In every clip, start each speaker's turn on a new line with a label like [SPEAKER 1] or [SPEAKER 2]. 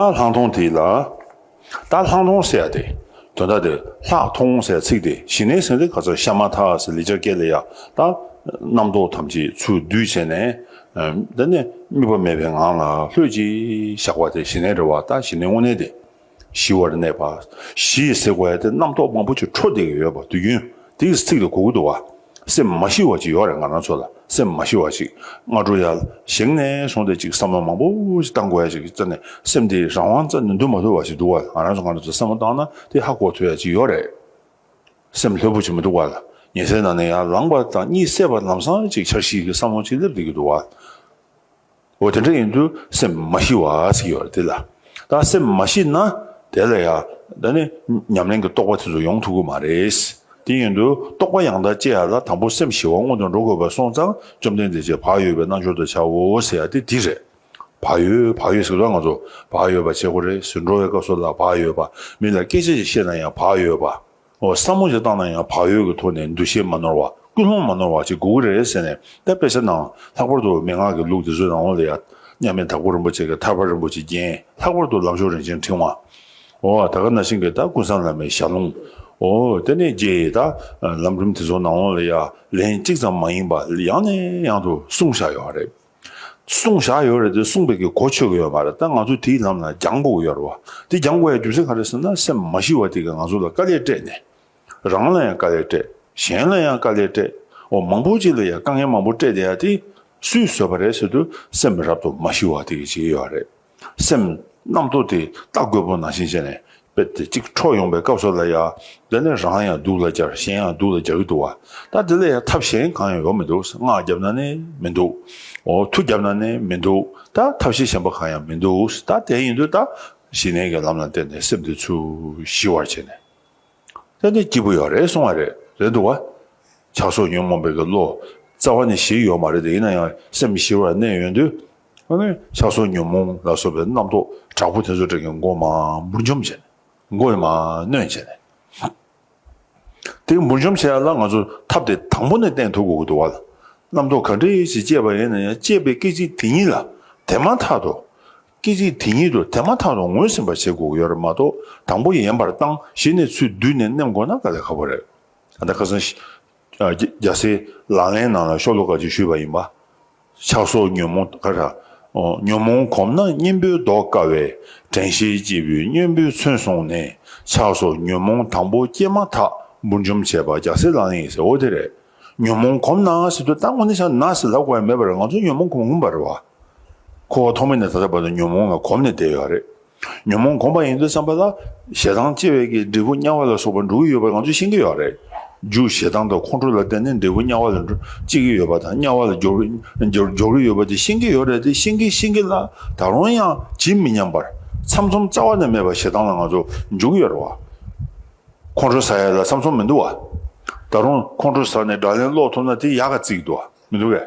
[SPEAKER 1] རྟ་ལྷང་མཐོང་དེ་ལ། རྟ་ལྷང་མཐོང་ཟེར་ཡ་དེ། དོན་དག་དེར་ལྷག་མཐོང་ཟེར་ཚིག་དེ་ཞི་གནས་ཟིན་རེ་ག་ཚོད་ཤ་མ་ཐག་ཟེར་ལི་ཅག་སྐད་ལས་ཡག་ད། རྣམ་རྟོག་ཐམས་ཅད་ཚུར་བསྡུས་བྱས་ནས། འདི་ནས་དམིགས་པ་མེད་པའི་ངང་ལ་ལྷོད་ཅིག་བཞག་པ་དེ་ཞི་གནས་རེད་བ་ད་ཞི་གནས་དངོས་གནས་དེ། ཞི་བར་གནས་པ། ཞི་ཟེར་བ་ཡ་དེ་རྣམ་རྟོག་མང་པོ་ཅིག་འཕྲོ་འདེགས་ཡོད་པ་དུས་རྒྱུན། དེའི་ཚིག་ལ་གུ་གུ་དུ་བ། སེམས་མ་ཤི་བ་ཅིག་ཡོད་རེད་ང་རང་ཚོ་ལ་སེམས་མ་ཤི་བ་ཅིག་སྔ་དྲོ་ཡར་བཞེངས་ནས་སོང་སྟེ་ཅིག་བསམ་བློ་མང་པོ་ཅིག་བཏང་དགོས་ཡ་ཅིག་རྩ་ནས་སེམས་དེ་རང་དབང་རྩ་ནས་འདུག་མ་ཕོད་པ་ཞིག་འདུག་བ་ང་རང་ཚོ་སྔ་དྲོ་ཚོ་བསམ་བློ་བཏང་ན་དེ་ཧ་གོ་ཐུབ་ཡ་ཅིག་ཡོད་རེད། སེམས་ལྷོད་པོ་ཅིག་མི་འདུག་བ་ལ་ཉལ་སའི་ནང་ནས་ཡར་ལངས་པ་དང་གཉིད་སད་པ་ལམ་སང་ཅིག་འཆར་གཞི་གི་བསམ་བློ་ཅིག་སླེབས་བསྡད་ཀྱི་འདུག་བ། འོ་དེ་འདྲ་ཡིན་དུས་སེམས་མ་ཞི་བ་ཟིག་ཡོད་རེད་དེ་ལ། ད་སེམས་མ་ཞི་ན་དེ་ལ་ཡང་ད་ནི་ཉམས་ལེན་གྱི་རྟོགས་པ་དེ་ཚོ་ཡོང་ཐུབ་ཀྱི་མ་རེད། དེ་ཡིན་དུས་རྟོགས་པ་ཡང་དག་སྤྱད་ཡ་ལ་དང་པོ་སེམས་ཞི་བ་སྔོན་དུ་འགྲོ་དགོས་པར་སོང་ཙང་བཅོམ་ལྡན་འདས་ཀྱིས་བག་ཡོད་པའི་རྣལ་འབྱོར་དུ་བྱའོ་ཟེར་ཡ་དེ་འདི་རེད། བག་ཡོད་བག་ཡོད་ཟེར་དུས་ང་ཚོ་བག་ཡོད་པ་བྱེད་དགོས་རེད་ཟེར་འགྲོ་བའི་སྐབས་སུ་ལ་བག་ཡོད་པ་མི་ལ་སྐད་ཆ་ཞིག་བཤད་ན་ཡང་བག་ཡོད་པ། བསམ་བློ་ཞིག་བཏང་ན་ཡང་བག་ཡོད་ཀྱི་ཐོག་ནས་འདུ་ཤེས་མ་ནོར་བ་ཀུན་སློང་མ་ནོར་བ་ཅིག་དགོས་ཀྱི་རེད་ཟེར་ནས་དེ་སྤེལ་ས་ན་ལྷག་པར་དུ་མན་ངག་གི་ལུགས་དེ་ཚོའི་རང་དབང་ལ་ཡ། མཉམ་མེད་དྭགས་པོ་རིན་པོ་ཆེ་གི་ཐར་པ་རིན་པོ་ཆེའི་རྒྱན་ལྷག་པར་དུ་ལམ་ཞོར་རིན་ཆེན་འཕྲེང་བ། ད་སྐབས་ན་ཤིང་གི་དག་ཀུན་བཟང་ལམ་མེད་ཞགས་ལུང། དེ་ནས་རྗེ་ཡི་དག་ལམ་རིམ་དེ་ཚོ་ནང་དབང་ལ་ཡ་ལན་གཅིག་ཙམ་མ་ཡིན་པ་ཡང་ནས་ཡང་དུ་གསུངས་བཞག་ཡོད་རེད། གསུང་བཞག་ཡོད་རེད་དེ་གསུང་བོད་ཀྱི་གོ་ཆོད་གི་ཡོད་མ་རེད་ད་ང་ཚོ་དེའི་ལམ་ལ་རྒྱང་དགོས་གི་ཡོད་རེད་བ་དེ་རྒྱང་དགོས་ཡ་རྒྱུ་མཚན་ག་རེད་ཟེར་ན་སེམས་མ་ཞི་བ་དེ་གི་ང་ཚོ་ལ་དཀའ་ལས་སྤྲད་ནས་རང་ལ་ཡང་དཀའ་ལས་སྤྲད་གཞན་ལ་ཡང་དཀའ་ལས་སྤྲད་འོ་མང་པོ་ཅིག་ལ་ཡང་དཀའ་ངལ་མང་པོ་སྤྲད་དེ་ཡ་དེ་སུས་བཟོས་པ་རེད་ཟེར་དུས་སེམས་རབ་ཏུ་མ་ཞི་བ་དེ་གི་བྱེད་ཀྱི་ཡོད་རེད། སེམས་རྣམ་རྟོག་དེ་ལྟ་རྒོད་པོ་ནང་བཞིན་བྱས་ནས་དཔེ་དེ་གཅིག་འཕྲོ་ཡོང་པའི་སྐབས་སུ་ལ་ཡ། འདི་ནི་རང་ཡང་སྡུག་ལ་སྦྱར་གཞན་ཡང་སྡུག་ལ་སྦྱར་གྱི་འདུག་བ། ད་དེ་ལས་ཡང་ཐབས་གཞན་གང་ཡང་ཡོད་མི་འདུག་སྔགས་བརྒྱབ་ན་ནི་མི་འདུག། འོ་ཐུག་བརྒྱབ་ན་ནི་མི་འདུག་ད་ཐབས་ཤེས་གཞན་པ་གང་ཡང་མི་འདུག་ད་དེ་ཡིན་དུས་ད། ཞི་གནས་ཀྱི་ལམ་ལ་བརྟེན་ནས་སེམས་དེ་ཚུར་ཞི་བར་བྱས་ནས། ལྷ་ནི་སྐྱིད་པོ་ཡོད་རེད་གསུང་བ་རེད་རེད་འདུག་བ། ཆགས་སོགས་ཉོན་མོངས་པའི་གི་བློ་རྩ་བ་ནས་ཞི་ཡོད་མ་རེད་དེ་ཡིན་ན་ཡང་སེམས་མི་ཞིར་བར་གནས་ཡོད་དུས། ཨ་ནི་ཆགས་སོགས་ཉོན་མོངས་ལ་སོགས་པའི་རྣམ་རྟོག་དྲག་པོ་དེ་ཚོ་དྲན་གི་མགོ་མ་འབུར་འཇོམས་བྱས་ནས། མགོ་ཡི་མ་གནོན་བྱས་ནས། དེ་འབུར་འཇོམས་བྱས་ལ་ང་ཚོ་ཐབས་དེ་དང་པོ་ནས་བསྟེན་ཐུབ་དགོས་གི་འདུག་བ། རྣམ་རྟོག་ག་འདྲི་ཞིག་སྐྱེས་པ་ཡིན་ན་ཡང་སྐྱེས་པའི་སྐད་ཅིག་དེ་ཉིད་ལ་དེ་མ་ཐག་ཏུ། སྐད་ཅིག་དེ་ཉིད་དུ་དེ་མ་ཐག་ཏུ་ངོས་ཟིན་པར་བྱེད་དགོས་ཡོད་རེད་མ་གཏོགས་དང་པོ་ཡན་པར་བཏང་གཞི་ནས་ཚུལ་བསྡུས་ནས་མནན་དགོས་ན་དཀའ་ལས་ཁག་པོ་རེད། ད་ལྟ་ཁ་སང། རྒྱ་སེ། ལག་ལེན་ནང་ལ་ཤོག་ལོ་ཀ་ཅིག་བཞུས་པ་ཡིན་པ། ཆགས་སོགས་ཉོན་མོངས་ཀ་ར། ཉོན་མོངས་གོམས་ན་གཉེན་པོའི་བཟློག་དཀའ་བས་དྲན་ཤེས་སྐྱེས་བུའི་གཉེན་པོའི་མཚོན་བཟུང་ནས་ཆགས་སོགས་ཉོན་མོངས་དང་པོ་སྐྱེས་མ་ཐག་འབུར་འཇོམས་བྱེད་པ་རྒྱ་སེ་ལག་ལེན་ཡིན་ཟེར་འོ་དེ་རེད། ཉོན་མོངས་གོམས་ན་ང་སི་ཏུ་ལྟ་དངོས་ནས་ཆགས་ན་སི་ལ་དགོས་པ་མེད་པར་ང་ཚོ་ཉོན་མོངས་གོམས་གོམས་པར་རེད་བ། འཁོར་བ་ཐོག་མེད་ནས་ད་ལྟ་བར་དུ་ཉོན་མོངས་ལ་གོམས་ནས་བསྡད་ཡོད་རེད། ཉོན་མོངས་གོམས་པ་ཡིན་དུ་བསམ་པ་ལ། ཞེ་སྡང་སྐྱེ་བས་ཀྱི་འབྲས་བུ་དམྱལ་བ་ལ་སོགས་པར་འགྲོ་གི་ཡོད་པ་ང་ཚོས་ཤེས་ཀྱི་ཡོད་རེད། རྒྱུ་ཞེ་སྡང་དང་ཁོང་ཁྲོ་ལ་བརྟེན་ནས་འབྲས་བུ་དམྱལ་བ་ལ་འགྲོ་སྐྱེ་གི་ཡོད་པ་དང་དམྱལ་བ་ལ་འགྱོར་གི་ཡོད་པ་དེ་ཤེས་ཀྱི་ཡོད་རེད་དེ་ཤེས་ཀྱིན་ཤེས་ཀྱིན་ལ་ད་རུང་ཡང་ཇི་མི་སྙམ་པར། ཚམ་ཚོམ་རྩ་བ་ནས་མེད་པར་ཞེ་སྡང་ལ་ང་ཚོ་འཇུག་ཡོད་རེད་བ། ཁོང་ཁྲོ་ཟ་ཡ་ལ་ཚམ་ཚོམ་མི་འདུག་བ། ད་རུང་ཁོང་ཁྲོ་ཟ་ནས་སྒྲ་ལན་སློག་ཐུབ་ན་དེ་ཡག་ག་ཙིག་འདུག་བ་མི་འདུག་གས།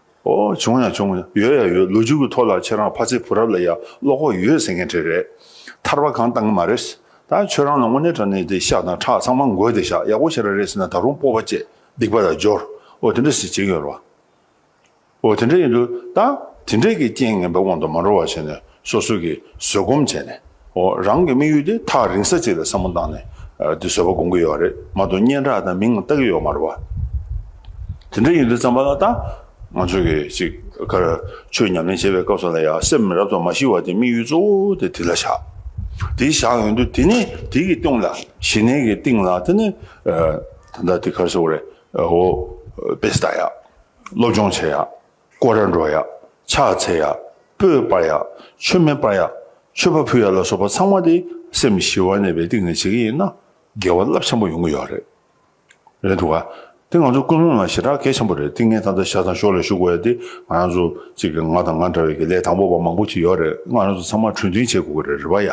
[SPEAKER 1] ཨོ། བྱུང་ཡང་བྱུང། ཡོད་ཡང་ཡོད། ལོ་རྒྱུས་ཀྱི་ཐོག་ལ་ཁྱེད་རང་ཕ་ཚའི་བུ་རབས་ལ་ཡང་བློ་ཁོག་ཡོད་ཟེར་མཁན་གྲས་རེད། ཐར་བ་གང་བཏང་གི་མ་རེད། ད་ཁྱོད་རང་ལ་དངོས་གནས་དྲ་གནས་དེ་ཤག་དང་ཁྲག་ཚང་མ་འགོས་དེ་ཤག་ཡག་པོ་བྱེད་ར་རེད་ཟེར་ན་ད་རུང་སྤོབས་པ་བཅས་སྡིག་པ་ལ་སྦྱོར། ཨོ་དེ་འདྲ་ཟེར་བྱེད་ཀྱི་ཡོད་རེད་བ། ཨོ་དེ་འདྲ་ཡིན་དུས་ད་དེ་འདྲས་ཀྱི་རྐྱེན་ངན་པའི་དབང་དུ་མ་འགྲོ་བ་བྱས་ནས་སོ་སོ་གིས་བཟོད་སྒོམ་བྱས་ནས། འོ་རང་གི་དམིགས་ཡུལ་དེ་ཐག་རིང་ས་གཅིག་ལ་བསམ་བློ་བཏང་ནས། འདི་བཟོད་པ་སྒོམ་གི་ཡོད་རེད་མ་གཏོགས་སྙན་གྲགས་དང་མིང་བཏགས་ཀྱི་ཡོད་མ་རེད་བ། དེ་འདྲ་ཡིན་དུས་བརྩམས་པ་ལ་ལྟ། ང་ཚོས་གི་ཅིག་ཁར་ཆོས་ཉམས་ལེན་བྱེད་པའི་སྐབས་སུ་ལ་ཡང་སེམས་རབ་ཏུ་མ་ཞི་བ་དེ་དམིགས་ཡུལ་གཙོ་བོ་དེ་དེ་ལ་བཞག། དེ་བཞག་ཡོང་དུས་དེ་ནས་དེ་གི་སྟེང་ལ། ཞི་གནས་ཀྱི་སྟེང་ལ་དེ་ནས། ད་ལྟ་དེ་ཁར་ཟེར་བ་རེད། འོ། དཔེ་ལྟ་ཡག། སློབ་སྦྱོང་བྱེད་ཡག། ཀོ་ར་འགྲོ་ཡག། ཕྱག་འཚལ་ཡག། སྤོས་སྤར་ཡག། མཆོད་མེ་སྤར་ཡག། མཆོད་པ་ཕུལ་ཡག་ལ་སོགས་པ་ཚང་མ་དེ་སེམས་ཞི་བ་གནས་པའི་སྟེང་ནས་བྱེད་ཀྱི་ཡིན་ན་དགེ་བ་རླབས་ཆེན་པོ་ཡོང་གི་ཡོད་རེད། རེད་འདུག་ག། དེ་ང་ཚོ་ཀུན་སློང་ལ་ཞེ་དྲག་གལ་ཆེན་པོ་རེད་ཏིང་ངེ་ད་ལྟ་ཤ་ཚང་ཤོག་ལ་ཞུགས་དགོས་ཡ་དེ་ང་རང་ཚོ་གཅིག་གི་ང་དང་ང་འདྲ་བའི་གི་ལས་དང་པོ་བ་མང་པོ་ཞིག་ཡོད་རེད་ང་རང་ཚོ་ཚང་མ་གྲོས་མཐུན་བྱེད་དགོས་གི་རེད་རེད་བ་ཡ།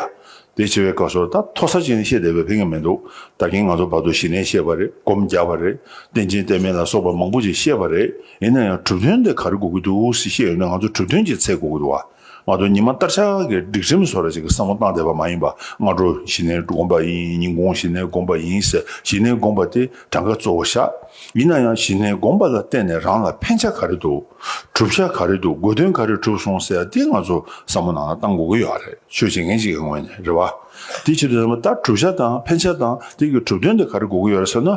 [SPEAKER 1] དེ་བྱེད་པའི་སྐབས་སུ་ད་མཐོ་ས་ཅན་བཤད་བསྡད་པའི་ཕན་ཀྱང་མི་འདུག་ད་གིན་ང་ཚོ་བར་དུ་ཞི་གནས་བཤད་པ་རེད་སྒོམ་རྒྱག་པ་རེད་བསྟན་ཅིང་བསྟན་མིན་ལ་སོགས་པ་མང་པོ་ཞིག་བཤད་པ་རེད་ཡིན་ན་ཡང་གྲུབ་དོན་དེ་ག་རེ་གོ་གི་འདུག་ཟེར་བཤད་ཡོད་ན་ང་ཚོ་གྲུབ་དོན་གྱི་ཚད་གོ་གི་འདུག་བ་ང་ཚོ་ཉི་མ་སྟར་ཆགས་ཀྱི་སྒྲིག་ཁྲིམས་བཟོ་ར་ཅིག་གི་བསམ་བློ་བཏང་བསྡད་པ་མ་ཡིན་པ་སྔ་དྲོ་ཞི་གནས་སྒོམ་པ་ཡིན་ཉིན་གུང་ཞི་གནས་སྒོམ་པ་ཡིན་ཟེར་ཞི་གནས་སྒོམ་པ་དེ་གྲངས་ཀ་གཙོ་བོ་བཞག། ཡིན་ན་ཡང་གཞི་ནས་དགོངས་པ་ལ་བརྟེན་ནས་རང་ལ་ཕན་ཆ་ག་རེ་འདུག་གྲུབ་ཆ་ག་རེ་འདུག་དགོས་དོན་ག་རེ་གྲུབ་སོང་ཟེར་འདི་ང་ཚོ་བསམ་བློ་ནང་ན་བཏང་དགོས་ཀྱི་ཡོད་རེད་ཆོས་བྱེད་མཁན་ཞིག་གི་ངོས་ནས་རེད་བ། དེའི་ཆེད་དུ་ནས་ད་གྲུབ་ཆ་དང་ཕན་ཆ་དང་དེ་གི་གྲུབ་དོན་དེ་ག་རེ་དགོས་ཀྱི་ཡོད་རེད་ཟེར་ན།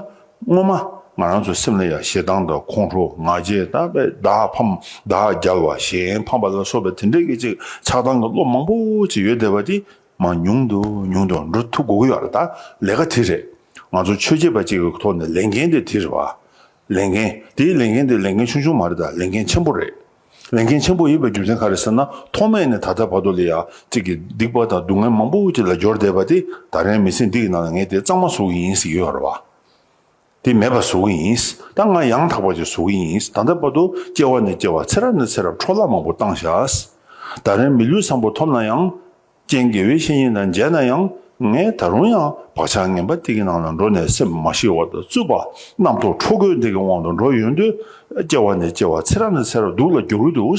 [SPEAKER 1] སྔོན་མ་ང་རང་ཚོའི་སེམས་ལ་ཡང་ཞེ་སྡང་དང་ཁོང་ཁྲོ་ང་རྒྱལ་དང་བས་བདག་ཕམ་བདག་རྒྱལ་བ་གཞན་ཕམ་པ་ལ་སོགས་པའི་དེ་འདྲའི་སྐད་ཅིག་ཆགས་སྡང་གི་བློ་མང་པོ་ཅིག་ཡོད་བསྡད་པ་དེ། མ་ཉུང་དུ་ཉུང་དུ་འགྲོ་ཐུབ་དགོས་ཀྱི་ཡོད་ལ་ད་ལས་ཀ་དེ་རེད། ང་ཚོ་ཆོས་བྱེད་པ་ཅིག་གི་ཐོག་ནས་ལས་འགན་དེ་དེ་རེད་བ། ལས་འགན། དེའི་ལས་འགན་དེ་ལས་འགན་ཆུང་ཆུང་མ་རེད་ད་ལས་འགན་ཆེན་པོ་རེད། ལས་འགན་ཆེན་པོ་ཡིན་པའི་རྒྱུ་མཚན་ག་རེད་ཟེར་ན་ཐོག་མེད་ནས་ད་ལྟ་བར་དུ་ལ་ཡ་གཅིག་གིས་སྡིག་པ་དང་སྡུག་བསྔལ་མང་པོ་ཅིག་ལ་སྦྱོར་བསྡད་པ་དེ་ད་རན་མི་སེམས་འདི་ཡི་ནང་ལ་ངས་དེ་གཙང་མ་བཟོ་གི་ཡིན་ཟེར་གྱི་ཡོད་རེད་བ། དེ་མེད་པར་བཟོ་གི་ཡིན། ད་ང་ཡང་དག་པ་ཅིག་བཟོ་གི་ཡིན། ད་ལྟ་བར་དུ་སྐྱེ་བ་ནས་སྐྱེ་བ་ཚེ་རབས་ནས་ཚེ་རབས་འཕྲོ་བརླག་མང་པོ་བཏང་བཞག། ད་རེས་མི་ལུས་བཟང་པོ་ཐོབ་ན་ཡང། རྐྱེན་དགེ་བའི་བཤེས་གཉེན་དང་མཇལ་ན་ཡང། ངས་ད་རུང་ཡང་བག་ཆགས་ངན་པ་དེ་གི་ནང་ལ་འགྲོ་ནས་སེམས་མ་ཞི་བ་དང་རྩུབ་པ། རྣམ་རྟོག་འཕྲོ་རྒོད་དེ་གི་དབང་དུ་འགྲོ་ཡོང་དུས། སྐྱེ་བ་ནས་སྐྱེ་བ་ཚེ་རབས་ནས་ཚེ་རབས་སྡུག་ལ་འགྱུར་གྱི་འདུག།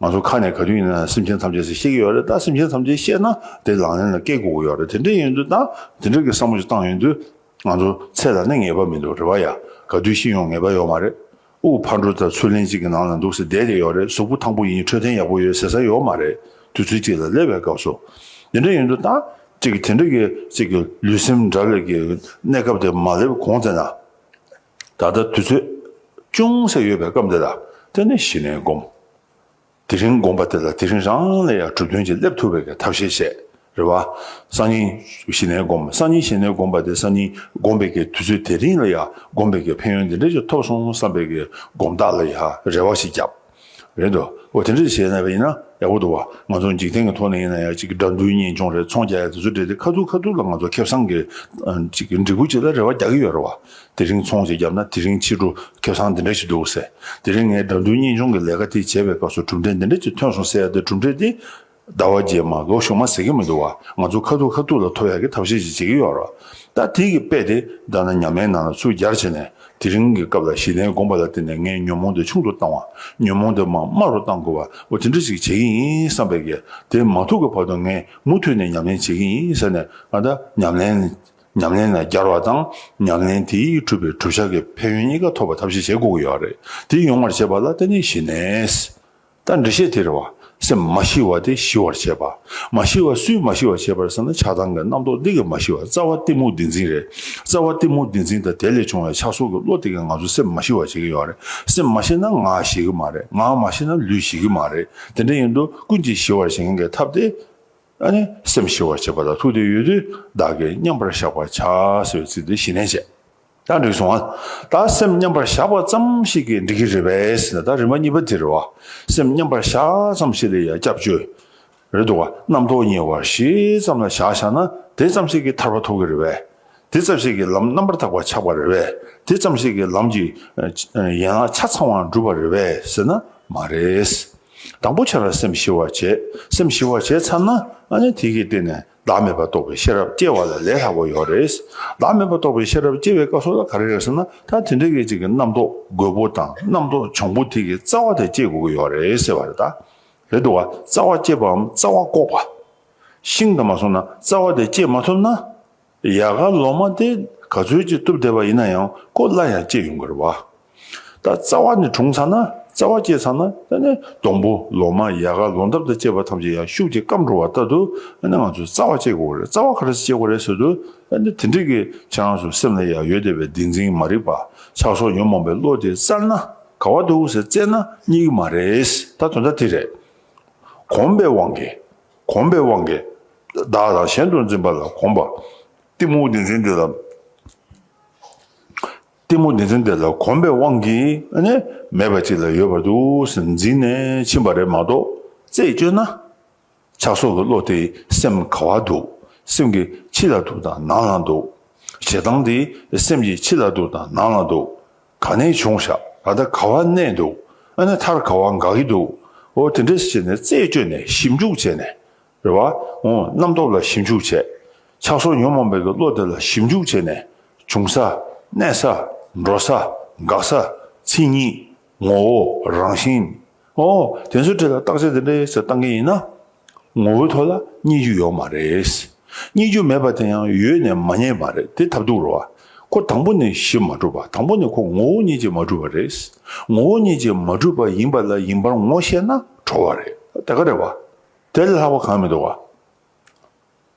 [SPEAKER 1] ང་ཚོ་ཁ་ནས་ག་དུས་ཡིན་ན་སེམས་ཅན་ཐམས་ཅད་ཟེར་ཤེས་ཀྱི་ཡོད་རེད་ད་སེམས་ཅན་ཐམས་ཅད་བཤད་ན་དེ་ལག་ལེན་ལ་སྐད་སྒུག་གི་ཡོད་རེད་དེ་འདྲ་ཡིན་དུས་ད་དེ་འདྲ་གི་བསམ་བློ་ཞིག་བཏང་ཡོད་དུས་ང་ཚོ་ཚེ་ལ་ནི་ངེས་པ་མི་འདུག་རེད་བ་ཡ། ག་དུས་ཤི་ཡོང་ངེས་པ་ཡོད་མ་རེད། དབུགས་ཕར་འགྲོ་ད་ཚུར་ལེན་གཅིག་གི་ནང་ལ་འདུག་ཟེར་བསྡད་ཀྱི་ཡོད་རེད་གཟུགས་པོ་ཐང་པོ་ཡིན་འཕྲོད་བསྟེན་ཡག་པོ་ཡོད་ཟེར་ས་ཡོད་མ་རེད་དུས་ཚོད་གཅིག་ལ་སླེབས་པའི་སྐབས་སུ། དེ་འདྲ་ཡིན་དུས་ད་ཅིག་དེ་འདྲ་གི་ཅིག་གི་ལུས་སེམས་དགྲ་བགེགས་ཀྱི་གནས་སྐབས་དེ་མ་སླེབས་གོང་ཚེ་ན། ད་ལྟ་དུས་ཚོད་ཅུང་ཟད་ཡོད་པའི་སྐབས་འདི་ལ་བརྟེན་ནས་གཞི་ནས་བསྒོམ། དེ་རིང་བསྒོམ་པ་དེ་ལ་དེ་རིང་རང་ལས་ཡར་གྲུབ་དོན་གྱིས་སླེབས་ཐུབ་པའི་ཐབས་ཤེས་བྱེད་རེ་བ། སང་ཉིན་གཞི་ནས་བསྒོམ། སང་ཉིན་གཞི་ནས་བསྒོམ་པ་དེ་སང་ཉིན་བསྒོམ་པའི་དུས་ཚོད་དེ་རིང་ལ་ཡར་བསྒོམ་པའི་ཕན་ཡོན་འདི་འདྲ་ཞིག་ཐོབ་སོང་བསམ་པའི་སྒོམ་རྟགས་ལ་ཡར་རེ་བ་ཞིག་བརྒྱབ། རེད་དོ། འོ་དེ་འདྲ་བྱས་ན་ཡིན་ན་ཡག་པོ་འདུག་བ། ང་ཚོ་འཇིག་རྟེན་གྱི་ཐོག་ནས་ཡིན་ན་ཡང་ཅིག་དགྲ་འདུལ་གཉེན་སྐྱོང་རེད་ཚོང་རྒྱག་ཡ་དེ་ཚོ་བྲེལ་ཏེ་ཁ་ཐུག་ཁ་ཐུག་ལ་ང་ཚོ་ཁེབས་སང་གི་ཅིག་འབྲི་གུ་ཅིག་ལ་རེ་བ་རྒྱག་གི་ཡོད་རེད་བ། དེ་རིང་ཚོང་ཞིག་བརྒྱབ་ན་དེ་རིང་ཕྱི་དྲོ་ཁེབས་སང་འདི་འདྲ་ཞིག་འདུག་ཟེར། དེ་རིང་ངས་དགྲ་འདུལ་གཉེན་སྐྱོང་གི་ལས་ཀ་དེ་བྱས་པའི་སྐབས་སུ་གྲུབ་འབྲས་འདི་འདྲ་ཅིག་ཐོན་སོང་ཟེར་ཡ་དེ་གྲུབ་འབྲས་དེ་ཟླ་བ་རྗེས་མ་ལོ་གཞོན་མ་ཟེར་གྱི་མི་འདུག་བ་ང་ཚོ་ཁ་ཐུག་ཁ་ཐུག་ལ་ཐོ་ཡག་གི་ཐབས་ཤེས་ཅིག་བྱེད་ཀྱི་ཡོད་རོ། ད་དེ་གི་དཔེ་དེ་བདག་ན་ཉམས་མའི་ནང་ལ་ཚུར་གྱར་བྱས་ནས་དེ་རིང་གི་སྐབས་ལ་གཞི་རྟེན་དགོངས་པ་ལ་བརྟེན་ནས་ངས་ཉོན་མོངས་དེ་ཆུང་དུ་བཏང་བ་ཉོན་མོངས་དེ་མ་དམའ་རུ་བཏང་དགོས་བ་འོ་དེ་འདྲ་ཞིག་བྱེད་ཀྱི་ཡིན་བསམ་པས་གལ་དེ་མ་ཐུག་གི་བར་དུ་ངས་མུ་མཐུད་ནས་ཉམས་ལེན་བྱེད་ཀྱི་ཡིན་ཟེར་ནས་ང་ད་ཉམས་ལེན་ཉམས་ལེན་ལ་གྱར་བ་དང་ཉམས་ལེན་དེའི་གྲུབ་པའི་གྲུབ་བྱ་གི་ཕན་ཡོན་གཉིས་ཀ་ཐོབ་པ་ཐབས་ཤེས་བྱེད་དགོས་ཀྱི་ཡོད་རེད་དེ་ཡོང་བར་བྱེད་པ་ལ་བརྟེན་ནས་གཞི་རྟེན་རྟ་འདྲེ་ཤེས་དེར་བ། སེམས་མ་ཞི་བ་དེ་ཞི་བར་བྱེད་པ། མ་ཞི་བ་སུས་མ་ཞི་བར་བྱེད་པར་ཟེར་ན་ཆགས་སྡང་གི་རྣམ་རྟོག་འདི་གིས་མ་ཞི་བ་རྩ་བ་གཏི་མུག་འདི་འཛིན་རེད། རྩ་བ་གཏི་མུག་འདི་འཛིན་དང་དེ་ལས་བྱུང་བའི་ཆགས་སོགས་ཀྱི་བློ་དེ་གིས་ང་ཚོ་སེམས་མ་ཞི་བར་བྱེད་ཀྱི་ཡོད་རེད། སེམས་མ་ཞི་ན་ངག་ཞི་གི་མ་རེད། ངག་མ་ཞི་ན་ལུས་ཞི་གི་མ་རེད། དེ་འདྲ་ཡིན་དུས་ཀུན་གྱིས་ཞི་བར་བྱེད་མཁན་གྱི་ཐབས་དེ། སེམས་ཞི་བར་བྱེད་པ་དང་ཐུགས་དེ་ཡོད་དུས་བདག་གིས་མཉམ་པར་བཞག་པར་བྱ་ཟེར་བའི་ཚིག་འདི་གཞི་ནས་བྱས། ད་འགྲིག་སོང་ཨ། ད་སེམས་མཉམ་པར་བཞག་པ་ཙམ་ཞིག་གིས་འགྲིག་གི་རེད་བས་ན་ད་རིམ་པ་གཉིས་པ་དེར་བ་སེམས་མཉམ་པར་བཞག་ཙམ་ཞིག་ལས་ཡང་སྐྱབས་བཅོལ་རེད་འདུག་ག་རྣམ་རྟོག་ཉེ་བར་ཞི་ཙམ་ལ་བཞག་བཞག་ན་དེ་ཙམ་ཞིག་གིས་ཐར་པ་ཐོབ་གི་རེད་བས་དེ་ཙམ་ཞིག་གིས་ལམ་རྣམ་པར་དག་པ་ཆགས་པ་རེད་བས་དེ་ཙམ་ཞིག་གིས་ལམ་གྱི་ཡན་ལག་ཆ་ཚང་བ་འགྲུབ་པ་རེད་བས་ཟེར་ན་མ་རེད། དང་པོ་ཆ་ལ་སེམས་ཞི་བར་བྱས་སེམས་ཞི་བར་བྱས་ཚར་ན་ཨ་ནི་དེ་གི་སྟེང་ནས་བདག་མེད་པར་རྟོགས་པའི་ཤེས་རབ་སྐྱེ་བ་ལ་ལས་ལྷག་པ་ཡོད་རེད། བདག་མེད་པར་རྟོགས་པའི་ཤེས་རབ་སྐྱེ་བའི་སྐབས་སུ་ལ་ག་རེ་རེད་ཟེར་ན་ད་དེ་འདྲའི་སྐད་ཅིག་གིས་རྣམ་རྟོག་རྒོད་པོ་དང་རྣམ་རྟོག་འབྱུང་པོ་དེ་གི་རྩ་བ་དེ་སྐྱེ་དགོས་ཀྱི་ཡོད་རེད་ཟེར་བ་རེད་ད། རེད་འདུག་ག་རྩ་བ་སྐྱེས་པའམ་རྩ་བ་བཀོག་པ། ཤིང་དང་མ་སོང་ན་རྩ་བ་དེ་སྐྱེས་མ་ཐུབ་ན། ཡལ་ག་ལོ་མ་དེ་ག་ཚོད་ཅིག་གཏུབ་བསྡད་པ་ཡིན་ན་ཡང་ཀོ་སླ་ཡང་སྐྱེས་ཡོང་གི་རེད་བ། ད་རྩ་བ་ནས་གྲུང་ཚར་ན་རྩ་བ་སྐྱེས་ཚར་ན་ད་ནི་སྡོང་པོ་ལོ་མ་ཡལ་ག་ལོ་འདབ་དང་བཅས་པ་ཐམས་ཅད་ཡང་ཤུགས་ཀྱིས་སྐམ་འགྲོ་བ་ལྟར་དུ་ད་ནི་ང་ཚོས་རྩ་བ་སྐྱེ་དགོས་རེད་རྩ་བ་ག་རེ་ཟིག་སྐྱེ་དགོས་རེད་ཟེར་དུས་ད་ནི་དེ་འགྲིག་གི་ཁྱེད་རང་ཚོ་སེམས་ལ་ཡང་ཡོད་བསྡད་པའི་བདེན་འཛིན་མ་རིག་པ་ཆགས་སོང་ཉོན་མོངས་པའི་བློ་དེ་བཙལ་ན་ག་བ་འདུག་ཟེར་བཙལ་ན་རྙེད་གི་མ་རེད་ད་དོན་དག་དེ་རེད། གོམས་པའི་དབང་གིས་གོམས་པའི་དབང་གིས་བདག་དང་གཞན་དུ་འཛིན་པ་ལ་གོམས་པ། གཏི་མུག་བདེན་འཛིན་འདི་ལ། གཏི་མུག་ནི་ཚུལ་འདི་ལ་གོམས་པའི་དབང་གིས་ནི་མེད་པ་ཅིག་ལ་ཡོད་པར་དུ་ཟིན་འཛིན་ནས་ཕྱིན་པ་རེད་མ་གཏོགས་རྩད་གཅོད་ན། ཆགས་སོགས་ཀྱི་བློ་དེ་སེམས་ག་བ་འདུག་སེམས་ཀྱི་ཕྱི་ལ་འདུག་དང་ནང་ལ་འདུག། ཞེ་སྡང་དེ་སེམས་ཀྱི་ཕྱི་ལ་འདུག་དང་ནང་ལ་འདུག་ག་ནས་བྱུང་བཞག་ད་ལྟ་ག་བ་གནས་འདུག་ཨ་ནི་མཐར་ག་བ་འགག་གི་འདུག་ཨོ་དེ་འདྲ་ཞེས་ནས་རྩད་གཅོད་ནས་ཞིབ་འཇུག་བྱས་ནས། རེ་བ། རྣམ་རྟོག་ལ་ཞིབ་འཇུག་བྱས། ཆགས་སོགས་ཉོན་མོངས་མེད་པའི་བློ་དེ་ལ་ཞིབ་འཇུག་བྱས་ནས། བྱུང་ས། གནས་ས། འགྲོ་ས། འགག་ས། མཚན་ཉིད། ངོ་བོ། རང་བཞིན། ཨོ། དེ་ཚོའི་འབྲེལ་ལ་བརྟག་དཔྱད་དེ་འདྲའི་ཟེར་བཏང་མཁན་ཡིན་ན། ངོ་བོའི་ཐོག་ལ་རྙེད་རྒྱུ་ཡོད་མ་རེད། རྙེད་རྒྱུ་མེད་པ་དེ་ཡང་ཡོད་ནས་མ་རྙེད་མ་རེད་དེ་ཐབས་སྡུག་རུ་བ། ཁོ་དང་པོ་ནས་ཞིབ་མ་གྲུབ་པ་དང་པོ་ནས་ཁོ་ངོ་བོ་རྙེད་བྱེད་མ་གྲུབ་པ་རེད། ངོ་བོ་རྙེད་བྱེད་མ་གྲུབ་པ་ཡིན་པ་ལ་ཡིན་པར་ངོ་ཤེས་ན་གྲོལ་བ་རེད། དེ་ག་རེ་བ། དེ་ལས་ལྷག་པ་གང་མི་འདུག་བ།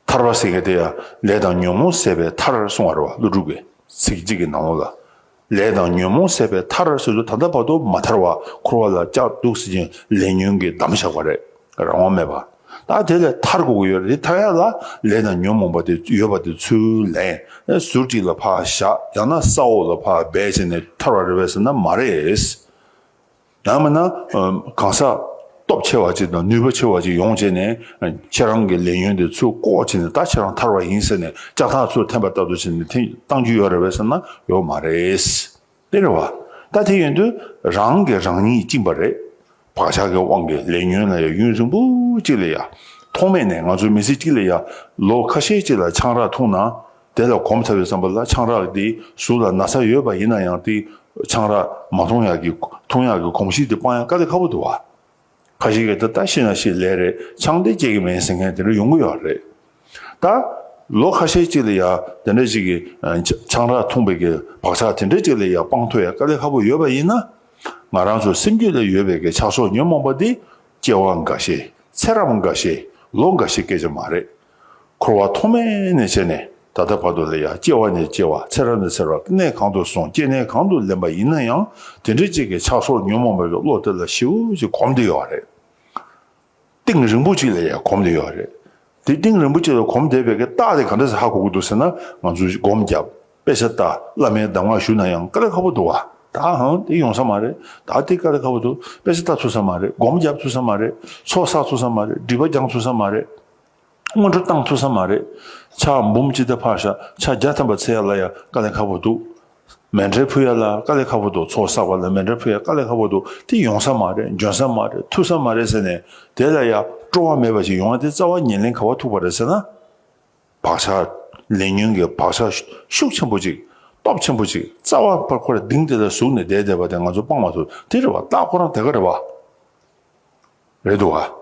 [SPEAKER 1] ཐར་པ་སེང་གེ་དེ་ཡང་ལས་དང་ཉོན་མོངས་ཟད་པའི་མཐར་གསུང་བར་བ་ཀླུ་སྒྲུབ་པའི་ཚིག་གཅིག་གི་ནང་ལོགས་ལ། ལས་དང་ཉོན་མོངས་ཟད་པའི་མཐར་སོ་སོ་ད་ལྟ་བར་དུ་མ་ཐར་བར་འཁོར་བ་ལ་སྐྱག་སྡུག་བསིལ་ཅིང་ལས་ཉོན་གྱིས་བསྡམས་བཞག་པ་རེད་རང་དབང་མེད་པ། ད་དེ་ལས་ཐར་དགོས་ཀྱི་ཡོད་རེད་དེ་ཐར་ཡག་ལ་ལས་དང་ཉོན་མོངས་པ་དེ་ཡོད་པ་དེ་ཚུར་ལེན་ཟུར་གཅིག་ལ་ཕག་བཞག་ཡང་ན་ས་འོག་ལ་ཕག་སྦས་བྱས་ནས་ཐར་བ་རེད་བས་ཟེར་ན་མ་རེད། ཡང་མིན་ན་གང་ཟག་སྟོབས་ཆེ་བ་ཅིག་དང་ནུས་པ་ཆེ་བ་ཅིག་ཡོང་བྱས་ནས་ཁྱེད་རང་གི་ལས་ཉོན་དེ་ཚུར་བཀོག་བྱས་ནས་ད་ཁྱེད་རང་ཐར་བ་ཡིན་ཟེར་ནས་ལྕགས་ཐག་ཚུར་འཐེན་པ་ལྟ་བུ་བྱས་ནས་འཐེན་བཏང་རྒྱུ་ཡོད་རེད་བས་ཟེར་ན་ཡོད་མ་རེད། དཔེར་རེད་བ། ད་དེ་ཡོད་དུས་རང་གིས་རང་ཉིད་བཅིངས་པ་རེད། བག་ཆགས་ཀྱི་དབང་གིས་ལས་ཉོན་ལ་ཡང་གཡུན་ཟུག་འབུ་གཅིག་ལས་ཡག། ཐོག་མེད་ནས་ང་ཚོ་མི་སེར་གཅིག་ལས་ཡག་ལོ་ཁ་ཤས་གཅིག་ལ་ཆང་རག་འཐུང་ན། དེ་ལ་གོམས་ཚར་བའི་བསམ་པ་ལ་ཆང་རག་དེ་གཟུགས་ལ་ན་ཚ་ཡོད་པ་ཡིན་ན་ཡང་དེ་ཆང་རག་མ་འཐུང་ཡག་གི་འཐུང་ཡག་གི་གོམས་གཤིས་དེ་སྤང་ཡང་དཀའ་ལས་ཁ་བོ་འདུག་བ། ཁ་ཞིག་གིས་ད་ལྟ་ཤི་ན་ཤི་ལེ་རེད་ཆང་དེ་སྐྱེ་གི་མིན་ཟེར་མཁན་དེ་འདྲ་ཡོང་གི་ཡོད་རེད། ད་ལོ་ཁ་ཤས་ཅིག་ལ་ཡང་དེ་འདྲ་ཅིག་གི་ཆང་རག་འཐུང་བའི་གི་བག་ཆགས་དེ་འདྲ་ཅིག་ལ་ཡང་སྤང་ཐུབ་ཡང་དཀའ་ལས་ཁ་བོ་ཡོད་པ་ཡིན་ན། ང་རང་ཚོ་སེམས་རྒྱུད་ལ་ཡོད་པའི་གི་ཆགས་སོགས་ཉོན་མོངས་པ་དེ་སྐྱེ་བ་འགའ་ཤས་ཚེ་རབས་འགའ་ཤས་ལོ་འགའ་ཤས་སྐད་ཆ་མ་རེད། འཁོར་བ་ཐོག་མེད་ནས་བྱས་ནས་ད་ལྟ་བར་དུ་ལས་ཡ་སྐྱེ་བ་ནས་སྐྱེ་བ་ཚེ་རབས་ནས་ཚེ་རབས་གནས་གང་དུ་སོང་སྐྱེ་གནས་གང་དུ་ལེན་པ་ཡིན་ན་ཡང་དེ་འདྲའི་གཅིག་གི་ཆགས་སོགས་ཉོན་མོངས་པའི་བློ་དེ་ལ་ཞིབ་ཀྱིས་གོམས་དེ་ཡོད་རེད། གཏིང་རིང་པོ་ཅིག་ལ་ཡང་གོམས་དེ་ཡོད་རེད། དེ་གཏིང་རིང་པོ་ཅིག་ལ་གོམས་བསྡད་པའི་རྟགས་དེ་ག་འདྲ་ཞིག་ཧ་གོ་གི་འདུག་ཟེར་ན་ང་ཚོས་སྒོམ་བརྒྱབ་དཔེ་ཆ་ལྟ་བླ་མའི་གདམས་ངག་ཞུ་ན་ཡང་དཀའ་ལས་ཁག་པོ་འདུག་ཨ། ད་ཧང་དེ་ཡོང་ས་མ་རེད་ད་དེ་དཀའ་ལས་ཁག་པོ་འདུག་དཔེ་ཆ་ལྟ་ཚུལ་ས་མ་རེད་སྒོམ་བརྒྱབ་ཚུལ་ས་མ་རེད་ཚོགས་བསགས་ཚུལ་ས་མ་རེད་སྒྲིབ་པ་སྦྱང་ཚུལ་ས་མ་རེད། སྔོན་འགྲོ་བཏང་ཐུབ་ས་མ་རེད། ཕྱག་འབུམ་སྤྱི་ཟླ་ཕག་ཞག་ཕྱག་བརྒྱ་ཐམ་པ་ཚེས་ཡར་ལ་ཡང་དཀའ་ལས་ཁག་པོ་འདུག། མེ་འདྲེར་ཕུ་ཡར་ལ་དཀའ་ལས་ཁག་པོ་འདུག་ཚོགས་བསགས་པ་ལ་མེ་འདྲེར་ཕུ་ཡར་དཀའ་ལས་ཁག་པོ་འདུག་དེ་ཡོང་ས་མ་རེད་འབྱོན་ས་མ་རེད་ཐུབ་ས་མ་རེད་ཟེར་ནས་དེ་ལ་ཡང་སྤྲོ་བ་མེད་པ་ཞིག་ཡོང་ན་དེ་རྩ་བ་ཉེས་ལེན་ག་བ་ཐུག་པ་རེད་ཟེར་ན། བག་ཆགས་ལས་ཉོན་གྱི་བག་ཆགས་ཤུགས་ཆེན་པོ་ཅིག་སྟོབས་ཆེན་པོ་ཅིག་རྩ་བ་པར་ཁོ་ར་ལྡིང་དེ་ལ་ཟུག་ནས་བསྡད་བསྡད་པ་དེ་ང་ཚོ་སྤང་མ་ཐུབ་དེ་རེད་བ་སྟག་ཁོ་རང་དེ་ག་རེད་བ། རེད་འདུག་ག།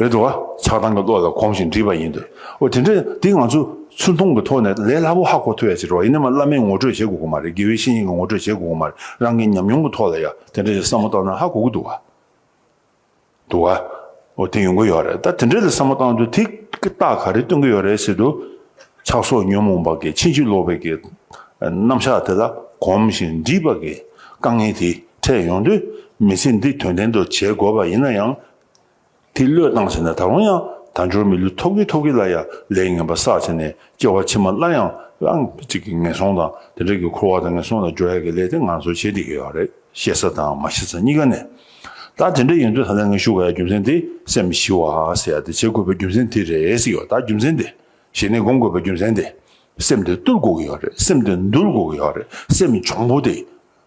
[SPEAKER 1] རེད་འགྲོ་བ་ཆགས་སྡང་གི་བློ་ལ་གོམས་ཤིང་འདྲིས་པ་ཡིན་འདོད། འོ་དེ་འདྲ་འདི་ང་ཚོས་ཚུར་མཐོང་གི་ཐོག་ནས་ལས་སླ་པོ་ཧ་གོ་ཐུབ་ཡ་ཆེ་རེད་བ་ཡིན་ན་མ་བླ་མས་ངོ་སྤྲོད་བྱེད་དགོས་ཀྱི་མ་རེད་དགེ་བའི་བཤེས་གཉེན་གྱི་ངོ་སྤྲོད་བྱེད་དགོས་ཀྱི་མ་རེད་རང་གི་ཉམས་མྱོང་གི་ཐོག་ལ་ཡ་དེ་འདྲ་ཞིག་བསམ་བློ་བཏང་ན་ཧ་གོ་གི་འདུག་བ། འདུག་བ། འོ་དེ་ཡོང་གི་ཡོད་རེད་ད་དེ་འདྲ་ལ་བསམ་བློ་བཏང་དུས་དེ་ཀི་རྟགས་ག་རེ་སྟོན་གྱི་ཡོད་རེད་ཟེར་དུས། ཆགས་སོགས་ཉོན་མོངས་པ་གི་ཕྱིན་ཅི་ལོག་པའི་གི་རྣམ་གཞག་དེ་ལ་གོམས་ཤིང་འདྲིས་པ་གི་དཀའ་ངལ་དེ། འཕྲད་ཡོང་དུས་མི་ཚེ་འདི་དོན་ལྡན་དུ་བྱེད་དགོས་པ་ཡིན་ན་ཡང། དེ་བློས་བཏང་བྱས་ན་ད་རུང་ཡང་དལ་འབྱོར་མི་ལུས་ཐོག་གི་ཐོག་གི་ལ་ཡ་ལས་ངན་པ་བསགས་བྱས་ནས་སྐྱེ་བ་ཕྱི་མ་སླར་ཡང་ཨང་གཅིག་གི་ངན་སོང་དང་དེ་འབྲེལ་གྱི་འཁོར་བ་དང་ངན་སོང་ལ་སྦྱོར་ཡག་གི་ལས་དེ་ང་ཚོས་བྱེད་བསྡད་ཀྱི་ཡོད་རེད་ཤེས་ས་དང་མ་ཤེས་ས་གཉིས་ཀ་ནས། ད་དེ་འདྲ་ཡིན་དུས་ད་ལན་ངས་ཞུ་ག་ཡ་རྒྱུ་མཚན་དེ་སེམས་མི་ཤི་བ་ཟེར་ཡ་དེ་བྱེད་དགོས་པའི་རྒྱུ་མཚན་དེ་རེད་ཟེར་གྱི་ཡོད་ད་རྒྱུ་མཚན་དེ་གཞི་ནས་སྒོམ་དགོས་པའི་རྒྱུ་མཚན་དེ་སེམས་དེ་བཏུལ་དགོས་ཀྱི་ཡོད་རེད་སེམས་དེ་འདུལ་དགོས་ཀྱི་ཡོད་རེད་སེམས་འབྱུང་པོ་དེ།